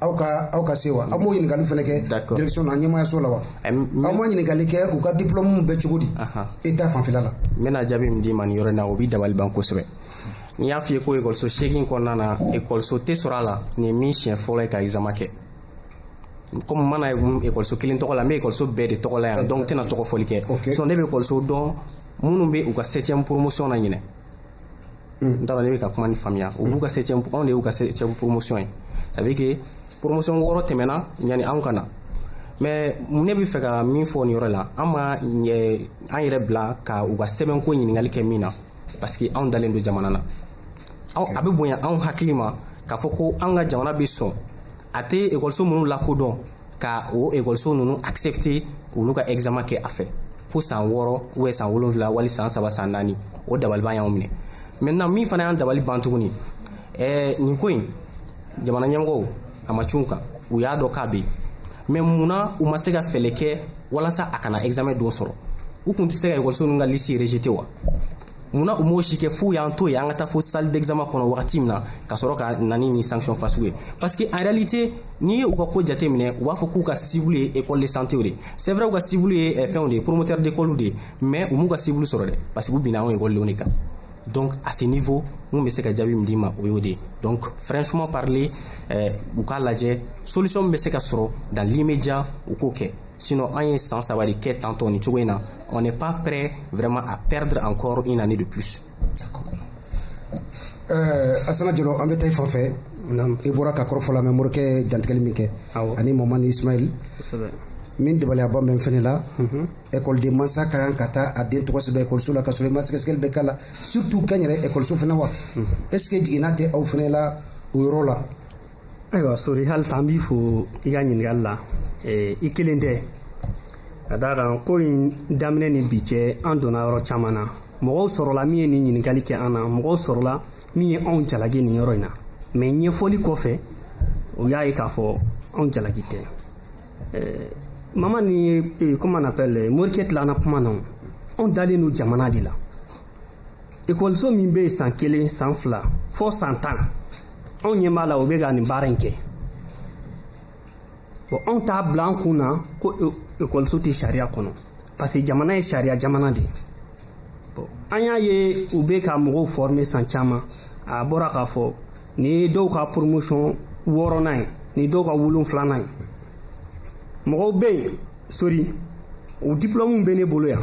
aw ka aw ka se wa aw m'o ɲininkali fana kɛ D'accord. direction na ɲɛmaayaso la wa Ɛm, n bɛ- aw ma ɲininkali kɛ u ka diplôme bɛ cogo di Ahan. état fanfɛla la n bɛna jaabi min d'i ma nin yɔrɔ in na o b'i dabali ban kosɛbɛ ni n y'a f'i ye ko ekɔliso seegin kɔnɔna na ekɔliso tɛ sɔrɔ a la nin ye min siɲɛ fɔlɔ ye ka examen kɛ komi n ma na ye mun- ekɔliso kelen tɔgɔ la n bɛ ekɔliso bɛɛ de tɔgɔ la yan donc n tɛna tɔgɔ fɔli kɛ Ok. sinon ne bɛ ekɔliso dɔn minnu bɛ u ka septième promotion na ɲinɛ n t'a dɔn n'e bɛ ka kuma nin faamuya u b'u ka septième anw de y'u ka septième promotion ye ça veut dire que promotion wɔɔrɔ tɛmɛna yanni anw ka na mais ne bɛ fɛ ka min fɔ nin yɔrɔ la an ma an yɛrɛ bila ka u ka sɛbɛnko ɲininkali kɛ min na parce que anw dalen don jamana na a bɛ bonya anw hakili ma k'a fɔ ko an ka jamana bɛ sɔn a tɛ ekɔliso minnu lakodɔn ka o ekɔliso ninnu accepter olu ka examen kɛ a fɛ fo san wɔɔrɔ ou bien san wolonfila wali san saba san naani o dabaliban y'anw minɛ maintenant min fana y'an dabali ban tuguni ɛɛ nin ko in jamana ɲɛmɔgɔw a ma cun u kan u y'a dɔn k'a bɛ yen mais mun na u ma se ka fɛɛrɛ kɛ walasa a kana examen don sɔrɔ u tun tɛ se ka ekɔliso ninnu ka liste rejeter wa munna u m'o si kɛ f'u y'an to yen an ka taa fo salle d'examen kɔnɔ wagati min na ka sɔrɔ ka na ni nin sanction fasugu ye parce que en réalité n'i ye u ka ko jate minɛ u b'a fɔ k'u ka cible ye école de santé de c'est vrai u ka cible ye eh, fɛnw de ye promoteur d'école de ye mais u m'u ka cible sɔrɔ dɛ parce que u binna anw ekɔlidenw kan donc à ce niveau n bɛ se ka jaabi min d'i ma o y'o de ye donc franchement parler eh, u k'a lajɛ solution min bɛ se ka sɔrɔ dans l'immédiat u k'o kɛ Sinon, an ye san saba de kɛ tantɔ nin cogo in na on n'est pas prêt vraiment à perdre encore une année de plus. Euh, Asana Jalo an bɛ taa i fan fɛ i bɔra ka kɔrɔfɔ lamɛn Morikɛ dantigɛli min kɛ ani Mamani Ismail min dabaliyaba bɛ n fɛnɛ la ekɔliden mhm. mansa ka kan ka taa a den tɔgɔ sɛbɛn ekɔliso la ka sɔrɔ i ma sɛgɛsɛgɛli bɛɛ k'a la surtout kɛnyɛrɛ ekɔliso fana wa mhm. est ce que jiginna tɛ aw fana la o yɔrɔ la Ayiwa Sori halisa an b'i fo i ka ɲininkali la i kelen tɛ ka d'a kan ko in daminɛ ni bi cɛ an donna yɔrɔ caman na mɔgɔw sɔrɔla min ye nin ɲininkali kɛ an na mɔgɔw sɔrɔla min ye anw jalaki nin yɔrɔ in na mais ɲɛfɔli kɔfɛ u y'a ye k'a fɔ anw jalaki tɛ Mamani ye comment on appelle Morikɛ tilana kuma na anw dalen don jamana de la ekɔliso min bɛ yen san kelen san fila fo san tan anw ɲɛ b'a la o bɛ ka nin baara in kɛ bon anw t'a bila an kun na ko ekɔliso tɛ sariya kɔnɔ parce que jamana ye sariya jamana de ye bon an y'a ye u bɛ ka mɔgɔw former san caman a bɔra k'a fɔ nin ye dɔw ka promotion wɔɔrɔnan ye nin dɔw ka wolonfilanan ye mɔgɔw bɛ yen sori o dipulɔmuw bɛ ne bolo yan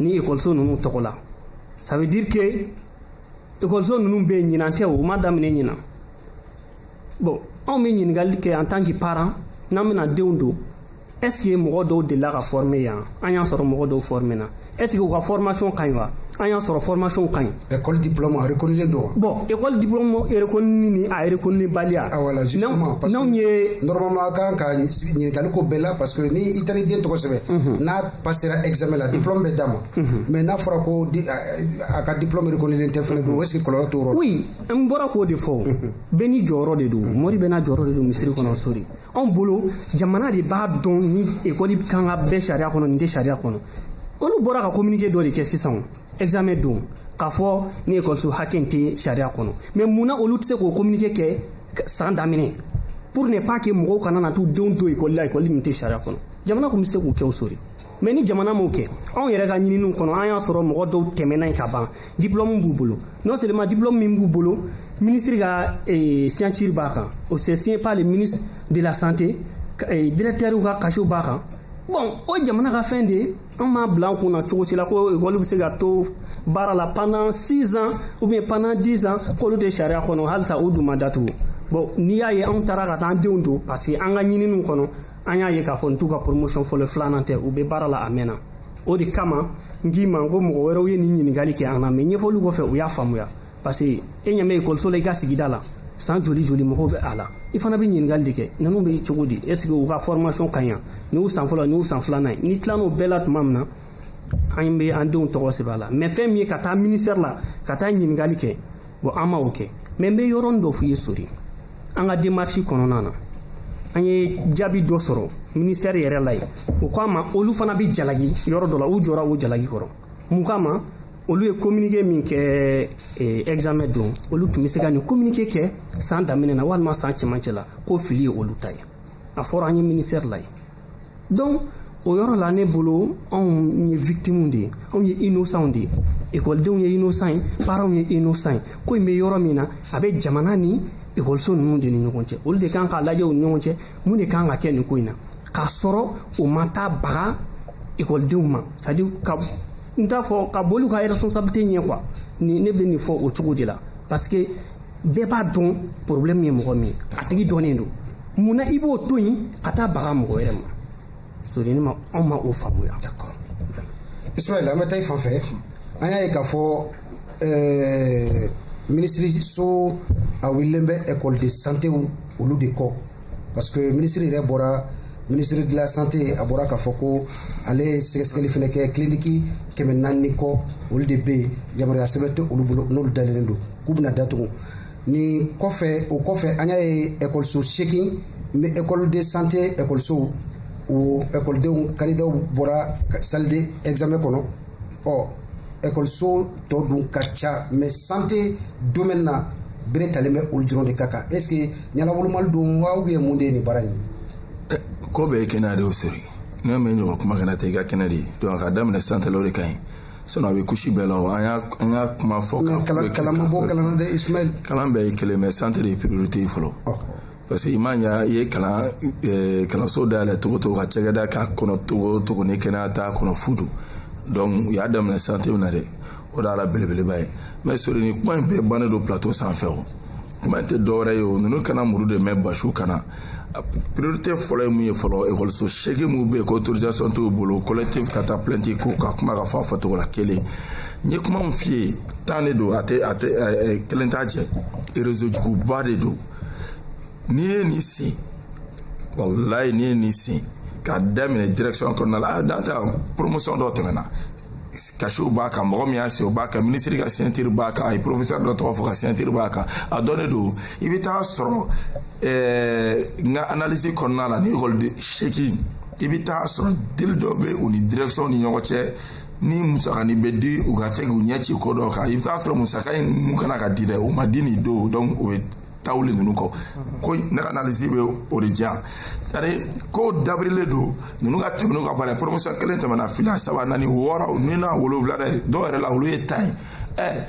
ni ekɔliso ninnu tɔgɔ la ça veut dire que ekɔliso ninnu bɛ yen ɲinan tɛ u ma daminɛ ɲinan bon anw bɛ ɲininkali kɛ en tant que parent n'an bɛna denw don est-ce que mɔgɔ dɔw delila ka former yan an y'a sɔrɔ mɔgɔ dɔw formena est-ce que u ka formation ka ɲi wa an y'a sɔrɔ formation ka ɲi Ɛ kɔli di fila ma rikden don bɔn ekɔli di rek ni a yɛrɛk ni baliya a wala n' yeɔrɔma kan ka ɲininkakali ko bɛɛ la paseke n ni i taara den tɔgɔ kosɛbɛ n'a ba sera esame la di dɔrɔn bɛ d'a ma mɛ n'a fɔra ko a ka dilɔri kɔniden tɛ fana don o si kɔlɔn tɔɔrɔ n bɔra k'o de fɔ bɛn ni jɔyɔrɔ de don mori bɛna jɔyɔrɔ de don misisiriri kɔnɔ sori anw bolo jamana de b'a dɔn ni ekɔli kan ka bɛ sariya kɔnɔ nin tɛ sariya kɔnɔ olu bɔra ka communiqué dɔ de kɛ sisan examen don k'a fɔ nin ekɔliso hakɛ in tɛ sariya kɔnɔ mais mun na olu tɛ se k'o communiqué kɛ san daminɛ pour ne pas que mɔgɔw kana na t'u denw don ekɔli la ekɔli min tɛ sariya kɔnɔ jamana tun bɛ se k'o kɛ o sori mais ni jamana m'o kɛ anw yɛrɛ ka ɲininiw kɔnɔ an y'a sɔrɔ mɔgɔ dɔw tɛmɛna yen ka ban diplɔmu b'u bolo non seulement diplɔmu min b'u bolo minisiri ka eh, signature b'a kan o c'est signé par le ministre de la santé eh, directeur ka cachet b'a kan bon o jamana ka fɛn de ye an m'a bila an kun na cogo si la ko ekɔli bɛ se ka to baara la pendant 6 ans ou bien pendant 10 ans k'olu tɛ sariya kɔnɔ halisa u dun ma datugu bon n'i y'a ye anw taara ka taa an denw don parce que an ka ɲininiw kɔnɔ an y'a ye k'a fɔ nin t'u ka promotion fɔlɔ filanan tɛ u bɛ baara la a mɛnna o de kama n k'i ma ko mɔgɔ wɛrɛw ye nin ɲininkali kɛ an na mais ɲɛfɔli kɔfɛ u y'a faamuya parce que e ɲɛ bɛ ekɔliso la i ka sigida la san joli joli mɔgɔw bɛ a la i fana bɛ ɲininkali de kɛ ninnu bɛ cogo di est ce que u ka formation ka ɲi nin y'u san fɔlɔ nin y'u san filanan ye n'i tilal'o bɛɛ la tuma min na an bɛ an denw tɔgɔ sɛbɛn a la mais fɛn min ye ka taa ministɛri la ka taa ɲininkali kɛ bon an ma o kɛ mais n bɛ yɔrɔnin dɔ f'i ye sori an ka démarche kɔnɔna na an ye jaabi dɔ sɔrɔ ministère yɛrɛ la yen u k'an ma olu fana bɛ jalaki yɔrɔ dɔ la u jɔra o jalaki kɔrɔ mun kama olu ye communiqué min kɛ eh, examen don olu tun bɛ se ka nin communiqué kɛ san daminɛ na walima san cɛmancɛ la ko fili ye olu ta ye a fɔra an ye ministère la yen donc o yɔrɔ la ne bolo anw ye victimes de ye anw ye innocents de ye ekɔlidenw ye innocent ye parents ye innocent ye ko in bɛ yɔrɔ min na a bɛ jamana ni ekɔliso ninnu de ni ɲɔgɔn cɛ olu de kan k'a lajɛ u ni ɲɔgɔn cɛ mun de kan ka kɛ nin ko in na k'a sɔrɔ o ma taa baga ekɔlidenw ma c'est à dire ka n t'a fɔ ka boli i ka responsabilité ɲɛ quoi ni ne bɛ nin fɔ o cogo de la parce que bɛɛ b'a dɔn problème ye mɔgɔ min a tigi dɔnnen don mun na i b'o to yen ka taa baga mɔgɔ wɛrɛ ma sori ne ma anw ma o faamuya ismaël an bɛ taa i fan fɛ an y'a ye k'a fɔ eh, minisiriso a wulilen bɛ école de santé olu de kɔ parce que minisiri yɛrɛ bɔra ministre de la santé a bɔra k'a fɔ ko ale ye sɛgɛsɛgɛli fana kɛ kiliniki kɛmɛ naani ni kɔ olu de bɛ yen yamaruya sɛbɛn tɛ olu bolo n'olu dalen don k'u bɛna datugu ni kɔfɛ o kɔfɛ an y'a ye ekɔliso seegin n bɛ école de santé ekɔlisow o ekɔlidenw candidatw bɔra salle de examen kɔnɔ ɔ ekɔliso tɔ dun ka ca mais santé domaine na bere talen bɛ olu dɔrɔn de ka kan est ce que ɲɛnawolomali don wa ou bien mun de ye nin baara in ye ko bɛɛ ye kɛnɛya de ye sori ne mɛ ɲɔgɔn kuma kana tɛ i ka kɛnɛ de ye donc a ka daminɛ santélaw de ka ɲi sinon a bɛ couche bɛɛ la an y'a an y'a kuma fɔ kalan kalan ma bɔ kalan na dɛ Ismaël kalan bɛɛ ye kelen mais santé de ye priorité ye fɔlɔ parce que i m'a ɲa i ye kalan eh, kalanso dayɛlɛ cogo cogo ka cakɛda k'a kɔnɔ cogo cogo ni kɛnɛya t'a kɔnɔ fu don donc u y'a daminɛ santé min na dɛ o de y'a la belebeleba ye mais Sori ni kuma in bɛɛ bannen don plateau sanfɛ o kuma tɛ dɔwɛrɛ ye o ninnu kana muruti mais basiw kana priorité fɔlɔ ye mun ye fɔlɔ ekɔliso seegin minnu bɛ yen ko autorisation t'u bolo collectif ka taa plainte ko ka kuma ka fɔ a fɔcogo la kelen n ye kuma min f'i ye tan de don a tɛ a tɛ kelen t'a cɛ réseau juguba de don n'i ye nin sen walayi n'i ye nin sen k'a daminɛ direction kɔnɔna la a dan tɛ promotion dɔ tɛmɛna cachetw b'a kan mɔgɔ min y'a se o b'a kan minisiri ka signature b'a kan a ye professeur dɔ tɔgɔ fɔ ka signature b'a kan a dɔnnen don i bɛ taa sɔrɔ ɛɛ n ka analyse kɔnɔna la ni ekɔli den seegin i bɛ taa sɔrɔ deal dɔ bɛ u ni direction ni ɲɔgɔn cɛ ni musakani bɛ di u ka se k'u ɲɛ ci ko dɔ kan i bɛ taa sɔrɔ musaka in mun kana ka di dɛ o ma di nin don o bɛ taa wuli ninnu kɔ ko ne ka analyse bɛ o de di yan c'est à dire ko dabirilen don ninnu ka tɛmɛ n'u ka baara ye promotion kelen tɛmɛna fila saba naani wɔɔrɔ ni na wolonwula dɛ dɔw yɛrɛ la olu ye tan ye ɛ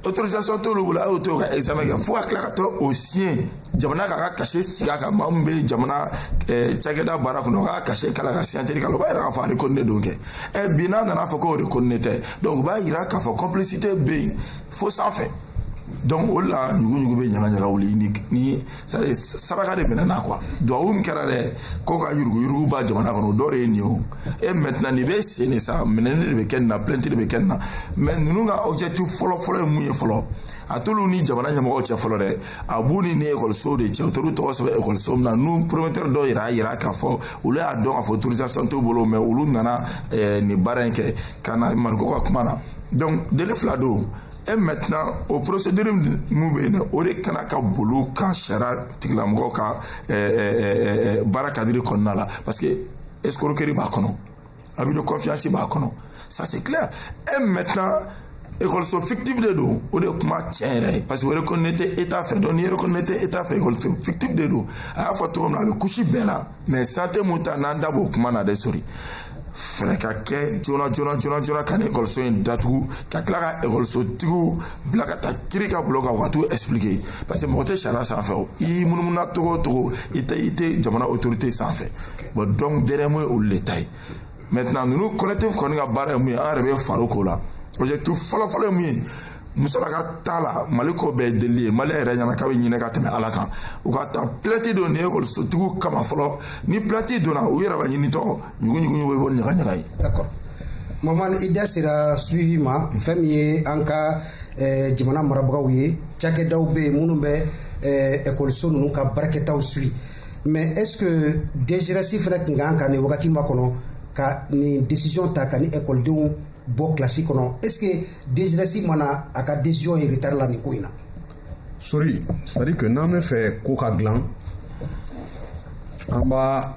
autorisation t'olu bolo a y'o to ka examen kɛ fo ka tila ka taa o siɲɛ jamana k'a ka cachet sigi a kan maa min bɛ jamana cakɛda baara kɔnɔ k'a cachet k'a la ka signature k'a la o b'a yira k'a fɔ a reconnu don kɛ ɛ bi n'a nana fɔ k'o reconnu tɛ donc o b'a yira k'a fɔ complicité bɛ yen fo sanfɛ donc o la ɲuguɲugu bɛ ɲagaɲaga wuli ni ni sari saraka de minɛna quoi duwawu min kɛra dɛ ko ka yuruguyurugu ban jamana kɔnɔ o dɔ de ye nin ye o et maintenant nin bɛ sen de sa minɛni de bɛ kɛ nin na plainte de bɛ kɛ nin na mais ninnu ka objectif fɔlɔfɔlɔ ye mun ye fɔlɔ a t'olu ni jamana ɲɛmɔgɔw cɛ fɔlɔ dɛ a b'u ni ni ekɔlisow de cɛ u t'olu tɔgɔ sɛbɛn ekɔliso min na n'u promoteur dɔw yɛrɛ y'a yira k'a fɔ olu y'a dɔn k'a fɔ autorisation t'u bolo mais olu nana eh, nin baara in kɛ ka na Mariko ka kuma na donc délit fila don et maintenant o procédure min bɛ yen dɛ o de kana ka bol'u kan sariya tigilamɔgɔ ka eh, eh, eh, baara cadre kɔnɔna la parce que escroquerie b'a kɔnɔ abus de confiance b'a kɔnɔ ça c'est clair et maintenant ekɔliso fictif de don o de ye kuma tiɲɛ yɛrɛ ye parce que o reconnu tɛ état fɛ donc n'i reconnu tɛ état fɛ ekɔliso fictif de don a y'a fɔ cogo min na a bɛ couche bɛɛ la mais santé mun ta n'an da b'o kuma na dɛ Sori fɛɛrɛ ka kɛ joona joona joona joona ka nin ekɔliso in datugu ka tila ka ekɔlisotigiw bila ka taa kiri ka bulon kan u ka t'u expliquer parce que mɔgɔ tɛ sariya sanfɛ o i y'i munumuna cogo o cogo i tɛ i tɛ jamana autorité sanfɛ bon donc dernier mot ye olu le ta ye maintenant ninnu collectif kɔni ka baara ye mun ye an yɛrɛ bɛ far'o ko la objectif fɔlɔfɔlɔ ye mun ye musalaka t'a la mali ko bɛɛ ye delili ye mali yɛrɛ ɲɛna k'a bɛ hinɛ ka tɛmɛ ala kan u ka taa plainte don nin ekɔlisotigiw kama fɔlɔ ni plainte donna u yɛrɛ b'a ɲinitɔ ɲuguɲugu bɛ bɔ ɲagaɲaga ye d'accord maman i da sera suivi ma fɛn min ye an ka eh, jamana marabagaw ye cakɛdaw bɛ yen minnu bɛ eh, ekɔliso ninnu ka baarakɛtaw suivi mais est ce que DGRS fana tun ka kan ka nin wagati makɔnɔ ka nin décision ta ka nin ekɔlidenw bɔ kilasi kɔnɔ est ce que DGRS ma na a ka décision ye retard la nin ko in na sori c'est à dire que n'an bɛ fɛ ko ka dilan an b'a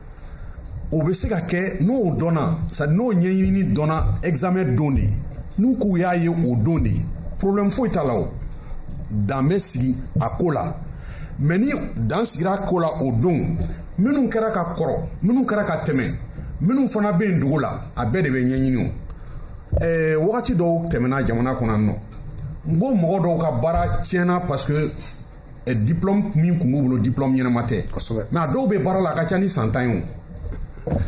o bɛ se ka kɛ n'o dɔnna c'est à dire n'o ɲɛɲinini dɔnna examen don de n'u k'u y'a ye o don de problème foyi t'a la o dan bɛ sigi a ko la mais ni dan sigira a ko la o don minnu kɛra ka kɔrɔ minnu kɛra ka tɛmɛ minnu fana bɛ yen dugu la a bɛɛ de bɛ ɲɛɲini o ɛɛ wagati dɔw tɛmɛna jamana kɔnɔ nɔ n ko mɔgɔ dɔw ka baara tiɲɛna parce que eh, diplôme min kun b'u bolo diplôme ɲɛnama tɛ mais a dɔw bɛ baara la a ka ca ni san tan ye o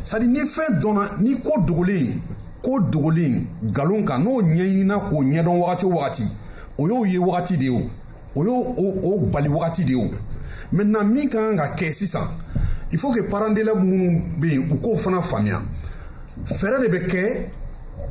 c'est à dire ni fɛn dɔnna ni ko dogolen ko dogolen nkalon kan n'o ɲɛɲinina k'o ɲɛdɔn wagati o wagati o y'o ye wagati de ye o o y'o bali wagati de ye o maintenant min ka kan ka kɛ sisan il faut que parents d'élèves minnu bɛ yen u k'o fana faamuya fɛɛrɛ de bɛ kɛ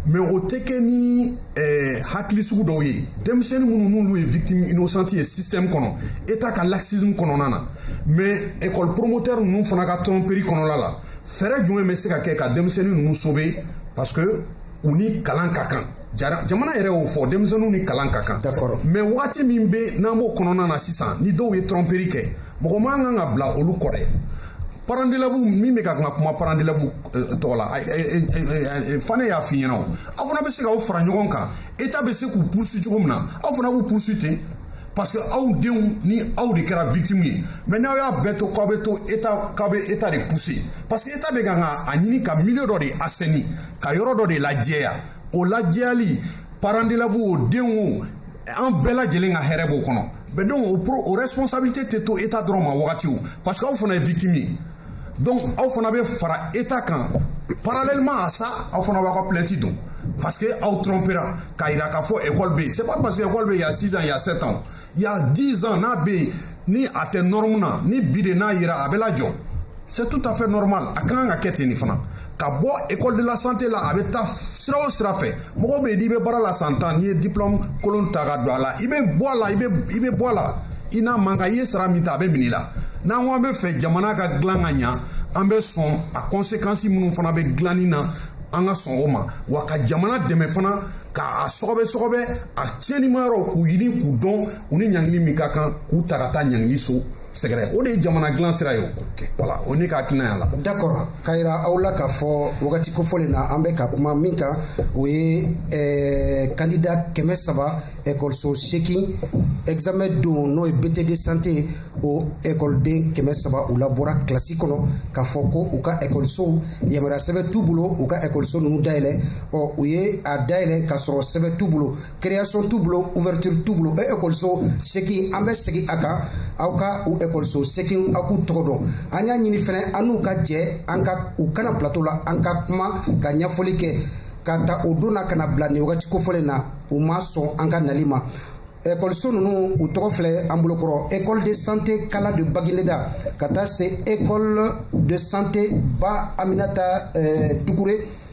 mais o tɛ kɛ ni eh, hakili sugu dɔw ye denmisɛnni minnu n'olu ye victime innocente ye système kɔnɔ état ka laxisme kɔnɔna na mais école promoteur ninnu fana ka tromperie kɔnɔna la fɛɛrɛ jumɛn bɛ se ka kɛ ka denmisɛnni ninnu sauver parce que u ni kalan ka kan jamana yɛrɛ y'o fɔ denmisɛnninw ni kalan ka kan mais wagati min bɛ n'an b'o kɔnɔna na sisan ni dɔw ye tromperie kɛ mɔgɔ man kan ka bila olu kɔ dɛ parents d'élèves min bɛ ka kuma parents d'élèves tɔgɔ la fane y'a f'i ɲɛna aw fana bɛ se k'aw fara ɲɔgɔn kan état bɛ se k'u poursuit cogo min na aw fana b'u poursuit ten parce que aw denw ni aw de kɛra victime ye mais n'aw y'a bɛɛ to k'aw bɛ to état k'aw bɛ état de pousser parce que état bɛ kan ka a ɲini ka milieu dɔ de assainir ka yɔrɔ dɔ de lajɛya o lajɛyali parents d'élèves o denw o an bɛɛ lajɛlen ka hɛrɛ b'o kɔnɔ mais donc o responsabilité tɛ to état dɔrɔn ma wagati o parce que aw fana ye victime ye donc aw fana bɛ fara état kan parallèlement à ça aw fana b'aw ka plainte don parce que aw trompera k'a jira k'a fɔ ekɔli bɛ yen c'est pas parce que ekɔli bɛ yen y a six ans y a sept ans y a dix ans n'a bɛ yen ni a tɛ nɔrɔmu na ni bi de n'a jira a bɛ lajɔ c'est tout à fait normal a ka kan ka kɛ ten nin fana ka bɔ école de la santé la a bɛ taa sira o sira fɛ mɔgɔ bɛ yen n'i bɛ baara la san tan n'i ye diplôme kolon ta ka don a la i bɛ bɔ a la i bɛ i bɛ bɔ a la i n'a man kan i ye sara min ta a bɛ minɛ i la n'an ko an bɛ fɛ jamana ka dilan ka ɲa an bɛ sɔn a conséquence minnu fana bɛ dilanni na an ka sɔn o ma wa ka jamana dɛmɛ fana k'a sɔgɔbɛ sɔgɔbɛ a tiɲɛnimayɔrɔw k'u ɲini k'u dɔn u ni ɲangili min ka kan k'u ta ka taa ɲangili so sɛgɛrɛ o de ye jamana dilan sira ye voilà o ne ka hakilina la d'accord k'a yira aw la k'a fɔ wagati kofɔlen na an bɛ ka kuma min kan o ye eh, kandida kɛmɛ saba ekɔliso seegin examen don n'o ye bt de santé o ekɔliden kɛmɛ saba u labɔra kilasi kɔnɔ k'a fɔ ko u ka ekɔlisow yamaruya sɛbɛn t'u bolo u ka ekɔliso ninnu dayɛlɛ ɔ u ye a dayɛlɛ k'a sɔrɔ sɛbɛn t'u bolo création t'u bolo ouverture t'u bolo o ekɔliso seegin an bɛ segin a kan aw ka u ekɔliso seegin aw k'u tɔgɔ dɔn an y'a ɲini fɛnɛ an n'u ka jɛ an ka u ka na plateau la an ka kuma ka ɲɛfɔli kɛ ka ta o don na ka na bila nin wagati kofɔlen na u ma sɔn an ka nali ma ekɔliso ninnu u tɔgɔ filɛ an bolokɔrɔ école de santé kala de bagineda ka taa se école de santé ba aminata eh, dukure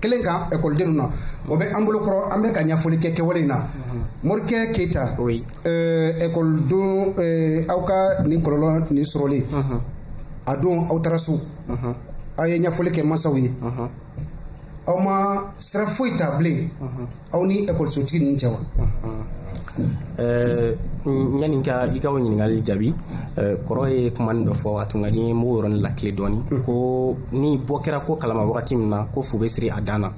kelen kan ekɔlidenw na o bɛ an bolokɔrɔ an bɛ ka ɲɛfɔli kɛ kɛwale in na morikɛ keyita ekɔlidon aw ka nin kɔlɔlɔ nin sɔrɔlen a don aw taara so aw ye ɲɛfɔli kɛ masaw ye aw ma sira foyi ta bilen aw ni ekɔlisotigi ninnu cɛ wa Eh, yanni ka i ka o ɲininkali jaabi eh, kɔrɔ ye kumanin dɔ fɔ a tun ka di n ye n b'o yɔrɔnin lakile dɔɔni mm. ko ni bɔ kɛra ko kalama wagati min na ko fu bɛ siri a dan na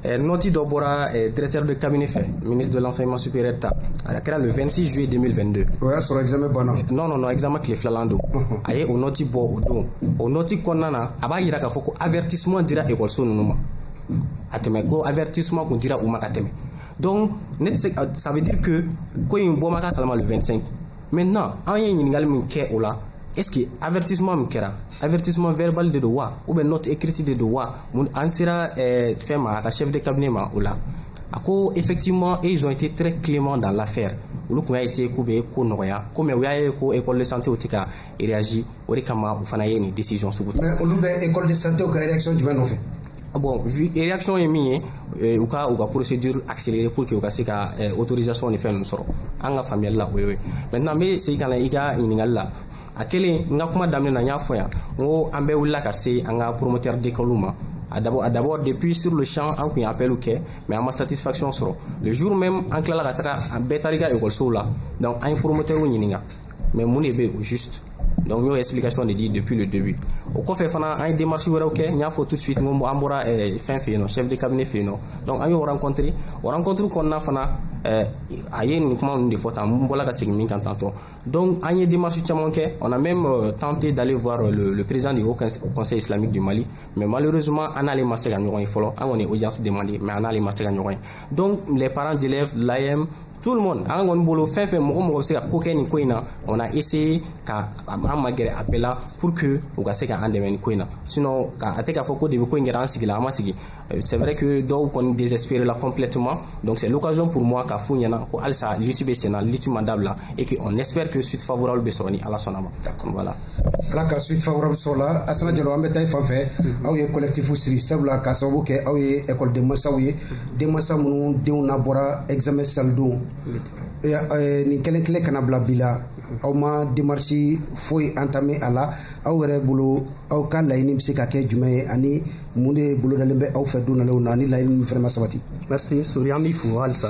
eh, nɔti dɔ bɔra directeur de cabinet fɛ ministre de l'enseignement supérieur ta a kɛra le 26 juillet 2022 o y'a sɔrɔ examen banna non non non examen tile filanan don uh-huh. a ye o nɔti bɔ o don o nɔti kɔnɔna na a b'a yira k'a fɔ ko avertissement dira ekɔliso ninnu ma a tɛmɛ ko avertissement kun dira u ma ka tɛmɛ donc ne tɛ se ça veut dire que ko in bɔ ma k'a kalama le 25 maintenant an ye ɲininkali min kɛ o la est ce que avertissement min kɛra avertissement verbal de don wa ou bien note écrite de don wa mun an sera eh, fɛn ma a ka chef de cabinet ma o la a ko effectivement ils ont été très cléments dans l'affaire olu kun y'a essayer k'u bɛ ko nɔgɔya ko mais u y'a ye ko école de santéw tɛ ka réagir o de kama u fana ye nin décision sugu ta olu bɛ école de santé ka réaction jumɛn nɔfɛ bon réaction ye min ye eh, u ka u ka procédure accélérer pour que u ka se ka eh, autorisation ni fɛn ninnu sɔrɔ an ka faamuyali la o ye maintenant n bɛ segin ka na i ka ɲininkali la a kelen n ka kuma daminɛ na n y'a fɔ yan n ko an bɛɛ wulila ka se an ka promoteur d'école ma a d'abord a d'abord depuis sur le champ an kun ye appel kɛ mais an ma satisfaction sɔrɔ le jour même an tilala ka taga an bɛɛ taar'i ka ekɔlisow la donc an ye promoteur ɲininka mais mun de bɛ yen o juste donc n y'o explication de di depuis le début o kɔfɛ fana an ye démarche wɛrɛw kɛ n y'a fɔ tout de suite n ko an bɔra eh, fɛn fɛ yen nɔ chef de cabinet fɛ yen nɔ donc an y'o rencontré o rencontre kɔnɔna fana eh, a ye nin kuma ninnu de fɔ tan n bɔra ka segin min kan tantôt donc an ye démarche caman kɛ on a même euh, tenté d'aller voir euh, le, le président du haut conseil islamique du mali mais malheureusement an n'ale ma se ka ɲɔgɔn ye fɔlɔ an kɔni ye audience demandé mais an n'ale ma se ka ɲɔgɔn ye donc les parents d'élèves l'AM tout le monde an kɔni bolo fɛn fɛn mɔgɔ mɔgɔ bɛ se ka ko kɛ nin ko in na on a essayé ka an magɛrɛ a bɛɛ la pour que u ka se ka an dɛmɛ nin ko in na sinon a tɛ k'a fɔ ko depuis ko in kɛra an sigila an ma sigi euh, c'est vrai que dɔw kɔni désespéré la complètement donc c'est l'occasion pour moi k'a f'u ɲɛna ko halisa lutte bɛ sen na lutte ma dabila et que on espère que suite favorable bɛ sɔrɔ ni Ala sɔnna ma voilà Ala ka suite favorable sɔrɔ o la Asana Jalo an bɛ taa i fan fɛ aw ye collectif sigi sabula ka sababu kɛ aw ye école denmasaw ye denmasa minnu denw labɔra examen salle don nin kelen kelen ka n'a bila bi la aw ma démarche foyi entamer a la aw yɛrɛ bolo aw ka laɲini bɛ se ka kɛ jumɛn ye ani mun de bolodalen bɛ aw fɛ don nalenw na ni laɲini ninnu fana ma sabati. Merci Sori an b'i fo halisa.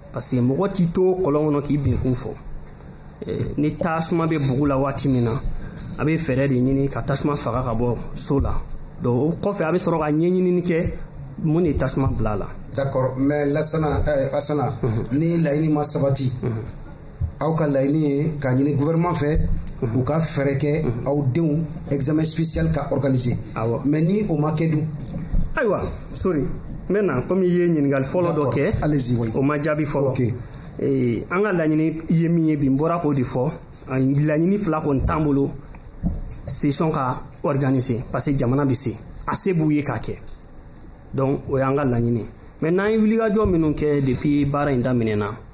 parce que mɔgɔ t'i to kɔlɔn kɔnɔ k'i binkun fɔ ni tasuma bɛ bugu la waati min na a bɛ fɛɛrɛ de ɲini ka tasuma faga ka bɔ so la donc o kɔfɛ a bɛ sɔrɔ ka ɲɛɲinini kɛ mun de tasuma bila a la d'accord mais lasana eh, asana ni laɲini ma sabati aw ka laɲini ye k'a ɲini gouvernement fɛ u ka fɛɛrɛ kɛ aw denw examen spécial ka organiser mais ni o ma kɛ dun ayiwa sori n bɛ na komi i ye ɲininkali fɔlɔ dɔ kɛ o ma jaabi fɔlɔ eh, an ka laɲini ye min ye bi n bɔra k'o de fɔ laɲini fila kɔni t'an bolo session ka organiser parce que jamana bɛ se a se b'u ye k'a kɛ donc o y'an ka laɲini mais n'an ye wulikajɔ minnu kɛ depuis baara in daminɛna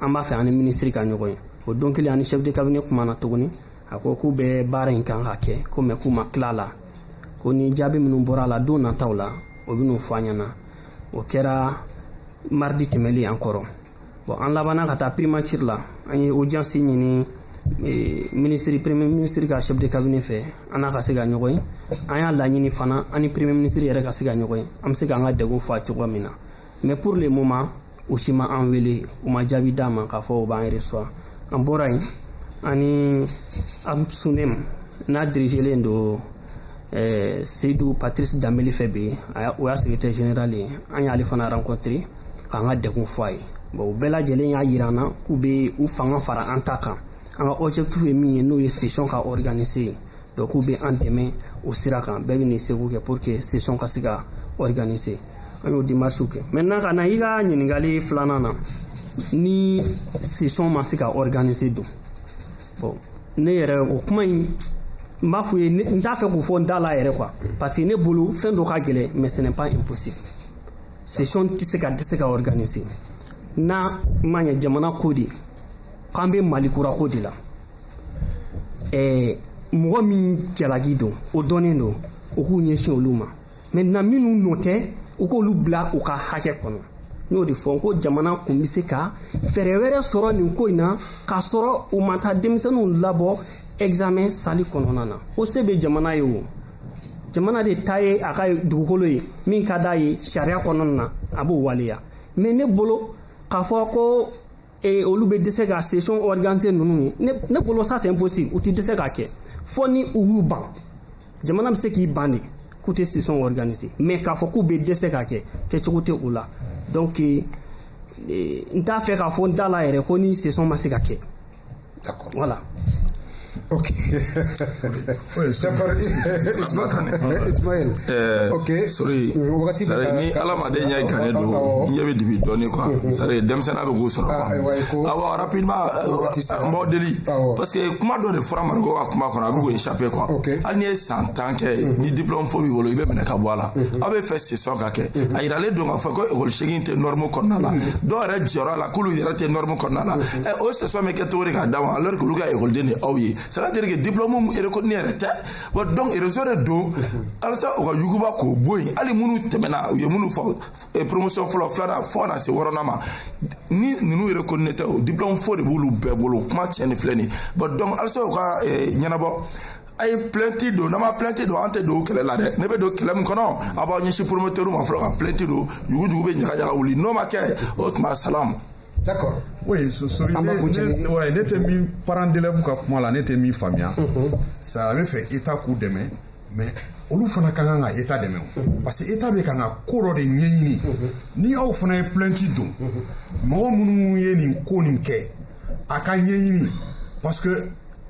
an b'a fɛ an ni minisiri ka ɲɔgɔn ye o don kelen an ni chef de cabinet kumana tuguni a ko k'u bɛ baara in kan ka kɛ ko mais k'u ma tila la ko ni jaabi minnu bɔra a la don nataw la o bɛn'o fɔ an ɲɛna o kɛra mardi tɛmɛlen an kɔrɔ bon an labanna ka taa primature la an ye audience ɲini e, minisiri premier minisiri ka chef de cabinet fɛ an n'a ka se ka ɲɔgɔn ye an y'a laɲini fana an ni premier minisiri yɛrɛ ka se ka ɲɔgɔn ye an bɛ se k'an ka degun fɔ a cogoya min na mais pour le moment u si ma an wele u ma jaabi d'an ma k'a fɔ u b'an reçoit an bɔra yen ani amsuneem n'a dirigelen don eh, seyidu patrice danbele fɛ bi o y'a secrétaire général ye an y'ale fana rencontré k'an ka degun fɔ a ye bon u bɛɛ lajɛlen y'a yira an na k'u bɛ u fanga fara an ta kan an ka objectif ye min ye n'o ye session ka organiser ye donc k'u bɛ an dɛmɛ o sira kan bɛɛ bɛ n'i seko kɛ pour que session ka se ka organiser an y'o démarche kɛ maintenant ka na i ka ɲininkali filanan na ni session ma se ka organiser don bon ne yɛrɛ o kuma in n b'a f'u ye n t'a fɛ k'o fɔ n da la yɛrɛ quoi parce que ne bolo fɛn dɔ ka gɛlɛn mais ce n'est pas impossible session tɛ se ka tɛ se ka organiser n'a ma ɲɛ jamana ko de k'an bɛ mali kura ko de la ɛɛ mɔgɔ min jalaki don o dɔnnen don o k'u ɲɛsin olu ma maintenant minnu nɔ tɛ u k'olu bila u ka hakɛ kɔnɔ n y'o de fɔ ko jamana kun bɛ se ka fɛɛrɛ wɛrɛ sɔrɔ nin ko in na k'a sɔrɔ u ma taa denmisɛnninw labɔ examen sali kɔnɔna na o se bɛ jamana ye o jamana de ta ye a ka dugukolo ye min ka d'a ye sariya kɔnɔna na a b'o waleya mais ne bolo k'a fɔ ko ee olu bɛ dɛsɛ ka session organiser ninnu ye ne ne bolo ça c'est impossible u tɛ dɛsɛ k'a kɛ fo ni u y'u ban jamana bɛ se k'i ban de k'u tɛ session organiser mais k'a fɔ k'u bɛ dɛsɛ k'a kɛ kɛcogo tɛ o la donc n t'a fɛ k'a fɔ n da la yɛrɛ ko ni session ma se ka kɛ D'accord. Voilà. Ok. Ismaël. Euh, ok. Sori. Wagati bɛ ka ni hadamaden ɲɛ gannen don, n ɲɛ bɛ dibi dɔɔni quoi. Mm-hmm. C'est à dire denmisɛnninya bɛ k'u sɔrɔ. Ah, Awɔ rapidement n b'aw deli parce que kuma dɔ de fɔra Mariko ka kuma kɔnɔ a bɛ k'o échapper quoi. Hali n'i ye san tan kɛ mm-hmm. ni diplôme faux b'i bolo i bɛ minɛ ka bɔ a la. Mm-hmm. Aw bɛ fɛ session ka kɛ. A yiralen don k'a fɔ ko école seegin tɛ norme kɔnɔna la. Dɔw yɛrɛ jɔra a la k'olu yɛrɛ tɛ norme kɔnɔna la. ɛ o session bɛ kɛ cogo di k'a d'a ma alors que olu ka ekɔliden de ye aw ye c'est à dire que diplôme reconnu yɛrɛ tɛ wa donc réseau de don alisa u ka yuguba k'o bɔ yen hali minnu tɛmɛna u ye minnu fɔ eh, promotion fɔlɔ filanan fo ka na se wɔɔrɔnan ma ni ninnu reconnu tɛ o diplôme faux de b'olu bɛɛ bolo kuma tiɲɛ ni filɛ nin ye bon donc alisa u ka eh, ɲɛnabɔ a ye plainte don n'an ma plainte don an tɛ don kɛlɛ la dɛ ne bɛ don kɛlɛ min kɔnɔ a b'aw ɲɛsin promoteur ma fɔlɔ ka plainte don yuguyugu bɛ ɲagaɲaga wuli n'o ma kɛ o tuma salamu D'accord. Oui, so, sorry, An b'a ne, kuncɛ ni- ne, ouais, ne tɛ min parent d'élève ka kuma la ne tɛ min faamuya sa a bɛ fɛ état k'u dɛmɛ mais olu fana ka kan ka état dɛmɛ o parce que état bɛ kan ka ko dɔ de ɲɛɲini ni aw fana ye plainte don mɔgɔ minnu ye nin ko nin kɛ a ka ɲɛɲini parce que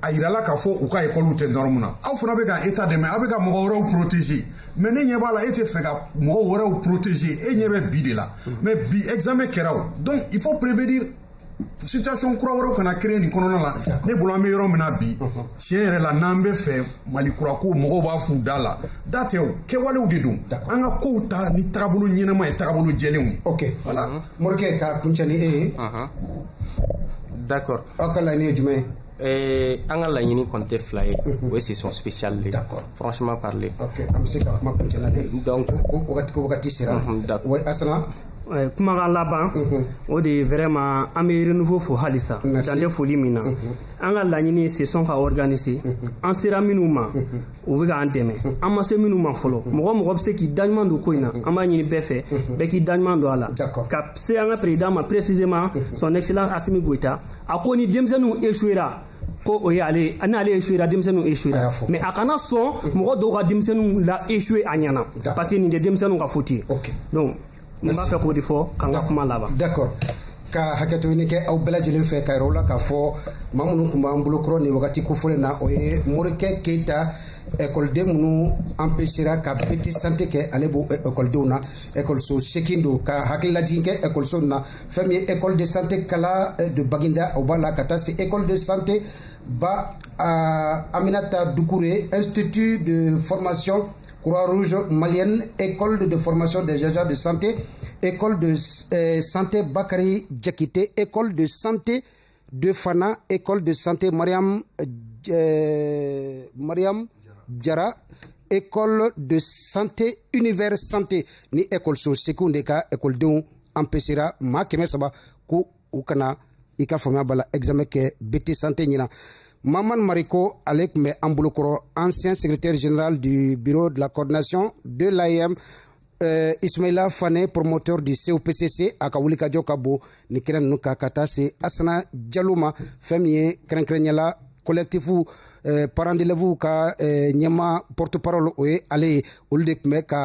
a yirala k'a fɔ u ka école tɛ norme na aw fana bɛ ka état dɛmɛ aw bɛ ka mɔgɔ wɛrɛw protéger mais ne ɲɛ b'a la e tɛ fɛ ka mɔgɔ wɛrɛw protéger e ɲɛ bɛ bi de la mais bi examen kɛra o donc il faut prévenir situation kura wɛrɛw kana créer nin kɔnɔna la ne bolo an bɛ yɔrɔ min na bi tiɲɛ yɛrɛ la n'an bɛ fɛ mali kura ko mɔgɔw b'a f'u da la da tɛ o kɛwalew de don an ka kow ta ni tagabolo ɲɛnama ye tagabolo jɛlenw ye ok voilà morikɛ k'a kuncɛ ni e ye d'accord aw ka laɲini ye jumɛn ye Ee, an ka laɲini kɔni tɛ fila ye o ye session spéciale de ye D'accord. franchement parler ok an bɛ se ka kuma kuncɛ la de Donc- ko ko wagati ko wagati sera Mhm, d'accord. wa asana Eh, kumakan laban o de ye vraiment an bɛ renouveau fo halisa Merci. dan tɛ foli min na an ka laɲini ye session ka organiser an sera minnu ma u bɛ k'an dɛmɛ an ma se minnu ma fɔlɔ mɔgɔ o mɔgɔ bɛ se k'i daɲuman don ko in na an b'a ɲini bɛɛ fɛ bɛɛ k'i daɲuman don a la D'accord. ka se an ka président ma précisément son excellence asimi goyita a ko ni denmisɛnninw échouera ko o ye ale n'ale échouera denmisɛnninw échouera mais a kana sɔn mɔgɔ dɔw ka denmisɛnninw la échouer a ɲɛna parce que nin tɛ denmisɛnninw ka faute ye donc n b'a fɛ k'o de fɔ ka n ka kuma laban d'accord ka hakɛto ɲini kɛ aw bɛɛ lajɛlen fɛ k'a yira aw la k'a fɔ maa minnu tun b'an bolo kɔrɔ nin wagati kofɔlen na o ye morikɛ keyita ekɔliden minnu empêchera ka BT santé kɛ ale b'o ekɔlidenw na ekɔliso seegin don ka hakililajigin kɛ ekɔliso na fɛn min ye école de santé kala eh, de baginda o b'a la ka taa se école de santé ba ah, aminata dukure institut de formation croix rouge malienne école de formation des agents de santé école de eh, santé bakari jakite école de santé de fana école de santé mariam eh, mariam jara école de santé univers santé nin ekɔliso seegin de ka ekɔlidenw empêchera maa kɛmɛ saba ko u kana i ka faamuya bala examen kɛ BT santé ɲinan maman mariko ale tun bɛ an bolokɔrɔ ancien secrétaire général du bureau de la coordination de l'AEEM euh, ismaila fane promoteur du copcc a ka wulikajɔ ka bon nin kɛnɛ ninnu kan ka taa se asana jalo ma fɛn min ye kɛrɛnkɛrɛnnenya la collectif eh, parents d'élèves ka eh, ɲɛmaa porte parole o ye ale ye olu de tun bɛ ka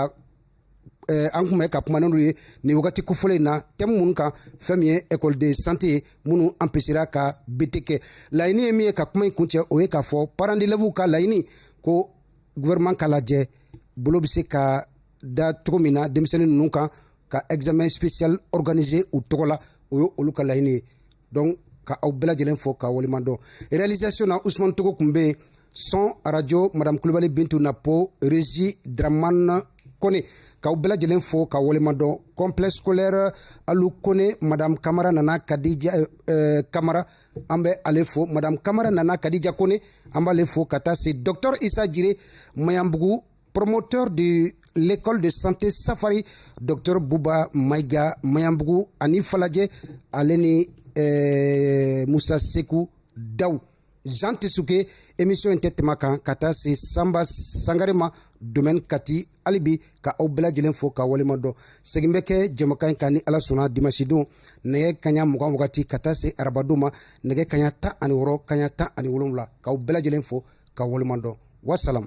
Eh, an tun bɛ ka kuma n'olu ye nin wagati kofɔlen in na thème minnu kan fɛn min ye ekɔliden santé ye minnu empêchera ka BT kɛ laɲini ye min ye ka kuma in kuncɛ o ye k'a fɔ parents d'élèves ka laɲini ko gouvernement k'a lajɛ bolo bɛ se ka da cogo min na denmisɛnnin ninnu kan ka examen spécial organiser u tɔgɔ la o ye olu ka laɲini ye donc ka aw bɛɛ lajɛlen fo ka waleɲumandɔn réalisation na usman togo tun bɛ yen son arajo madame kulubali bintu napo régie dramane kone k'aw bɛɛ lajɛlen fo ka waleɲumandɔn complexe scolaire alu kone madame kamara nana kadija euh, euh, kamara an bɛ ale fo madame kamara nana kadija kone an b'ale fo ka taa se docteur isa jire maɲanbugu Promoteur de l'école de santé Safari, Dr Bouba Maïga Mayambougou, ani Faladje, ale ni eh, Moussa Sekou Daou. Jean Tisuke, émission in tɛ tɛmɛ a kan, ka taa se Samba Sangare ma, domaine Kati, hali bi, ka aw bɛɛ lajɛlen fo ka waleɲuman dɔn segin bɛ kɛ jɛmukan kan ni ala sɔnna dimasidon nɛgɛ kaɲa mugan wagati ka taa se arabadon ma nɛgɛ kaɲa tan ani wɔɔrɔ kaɲa tan ani wolonwula k'aw bɛɛ lajɛlen fo ka waleɲuman dɔn wasalam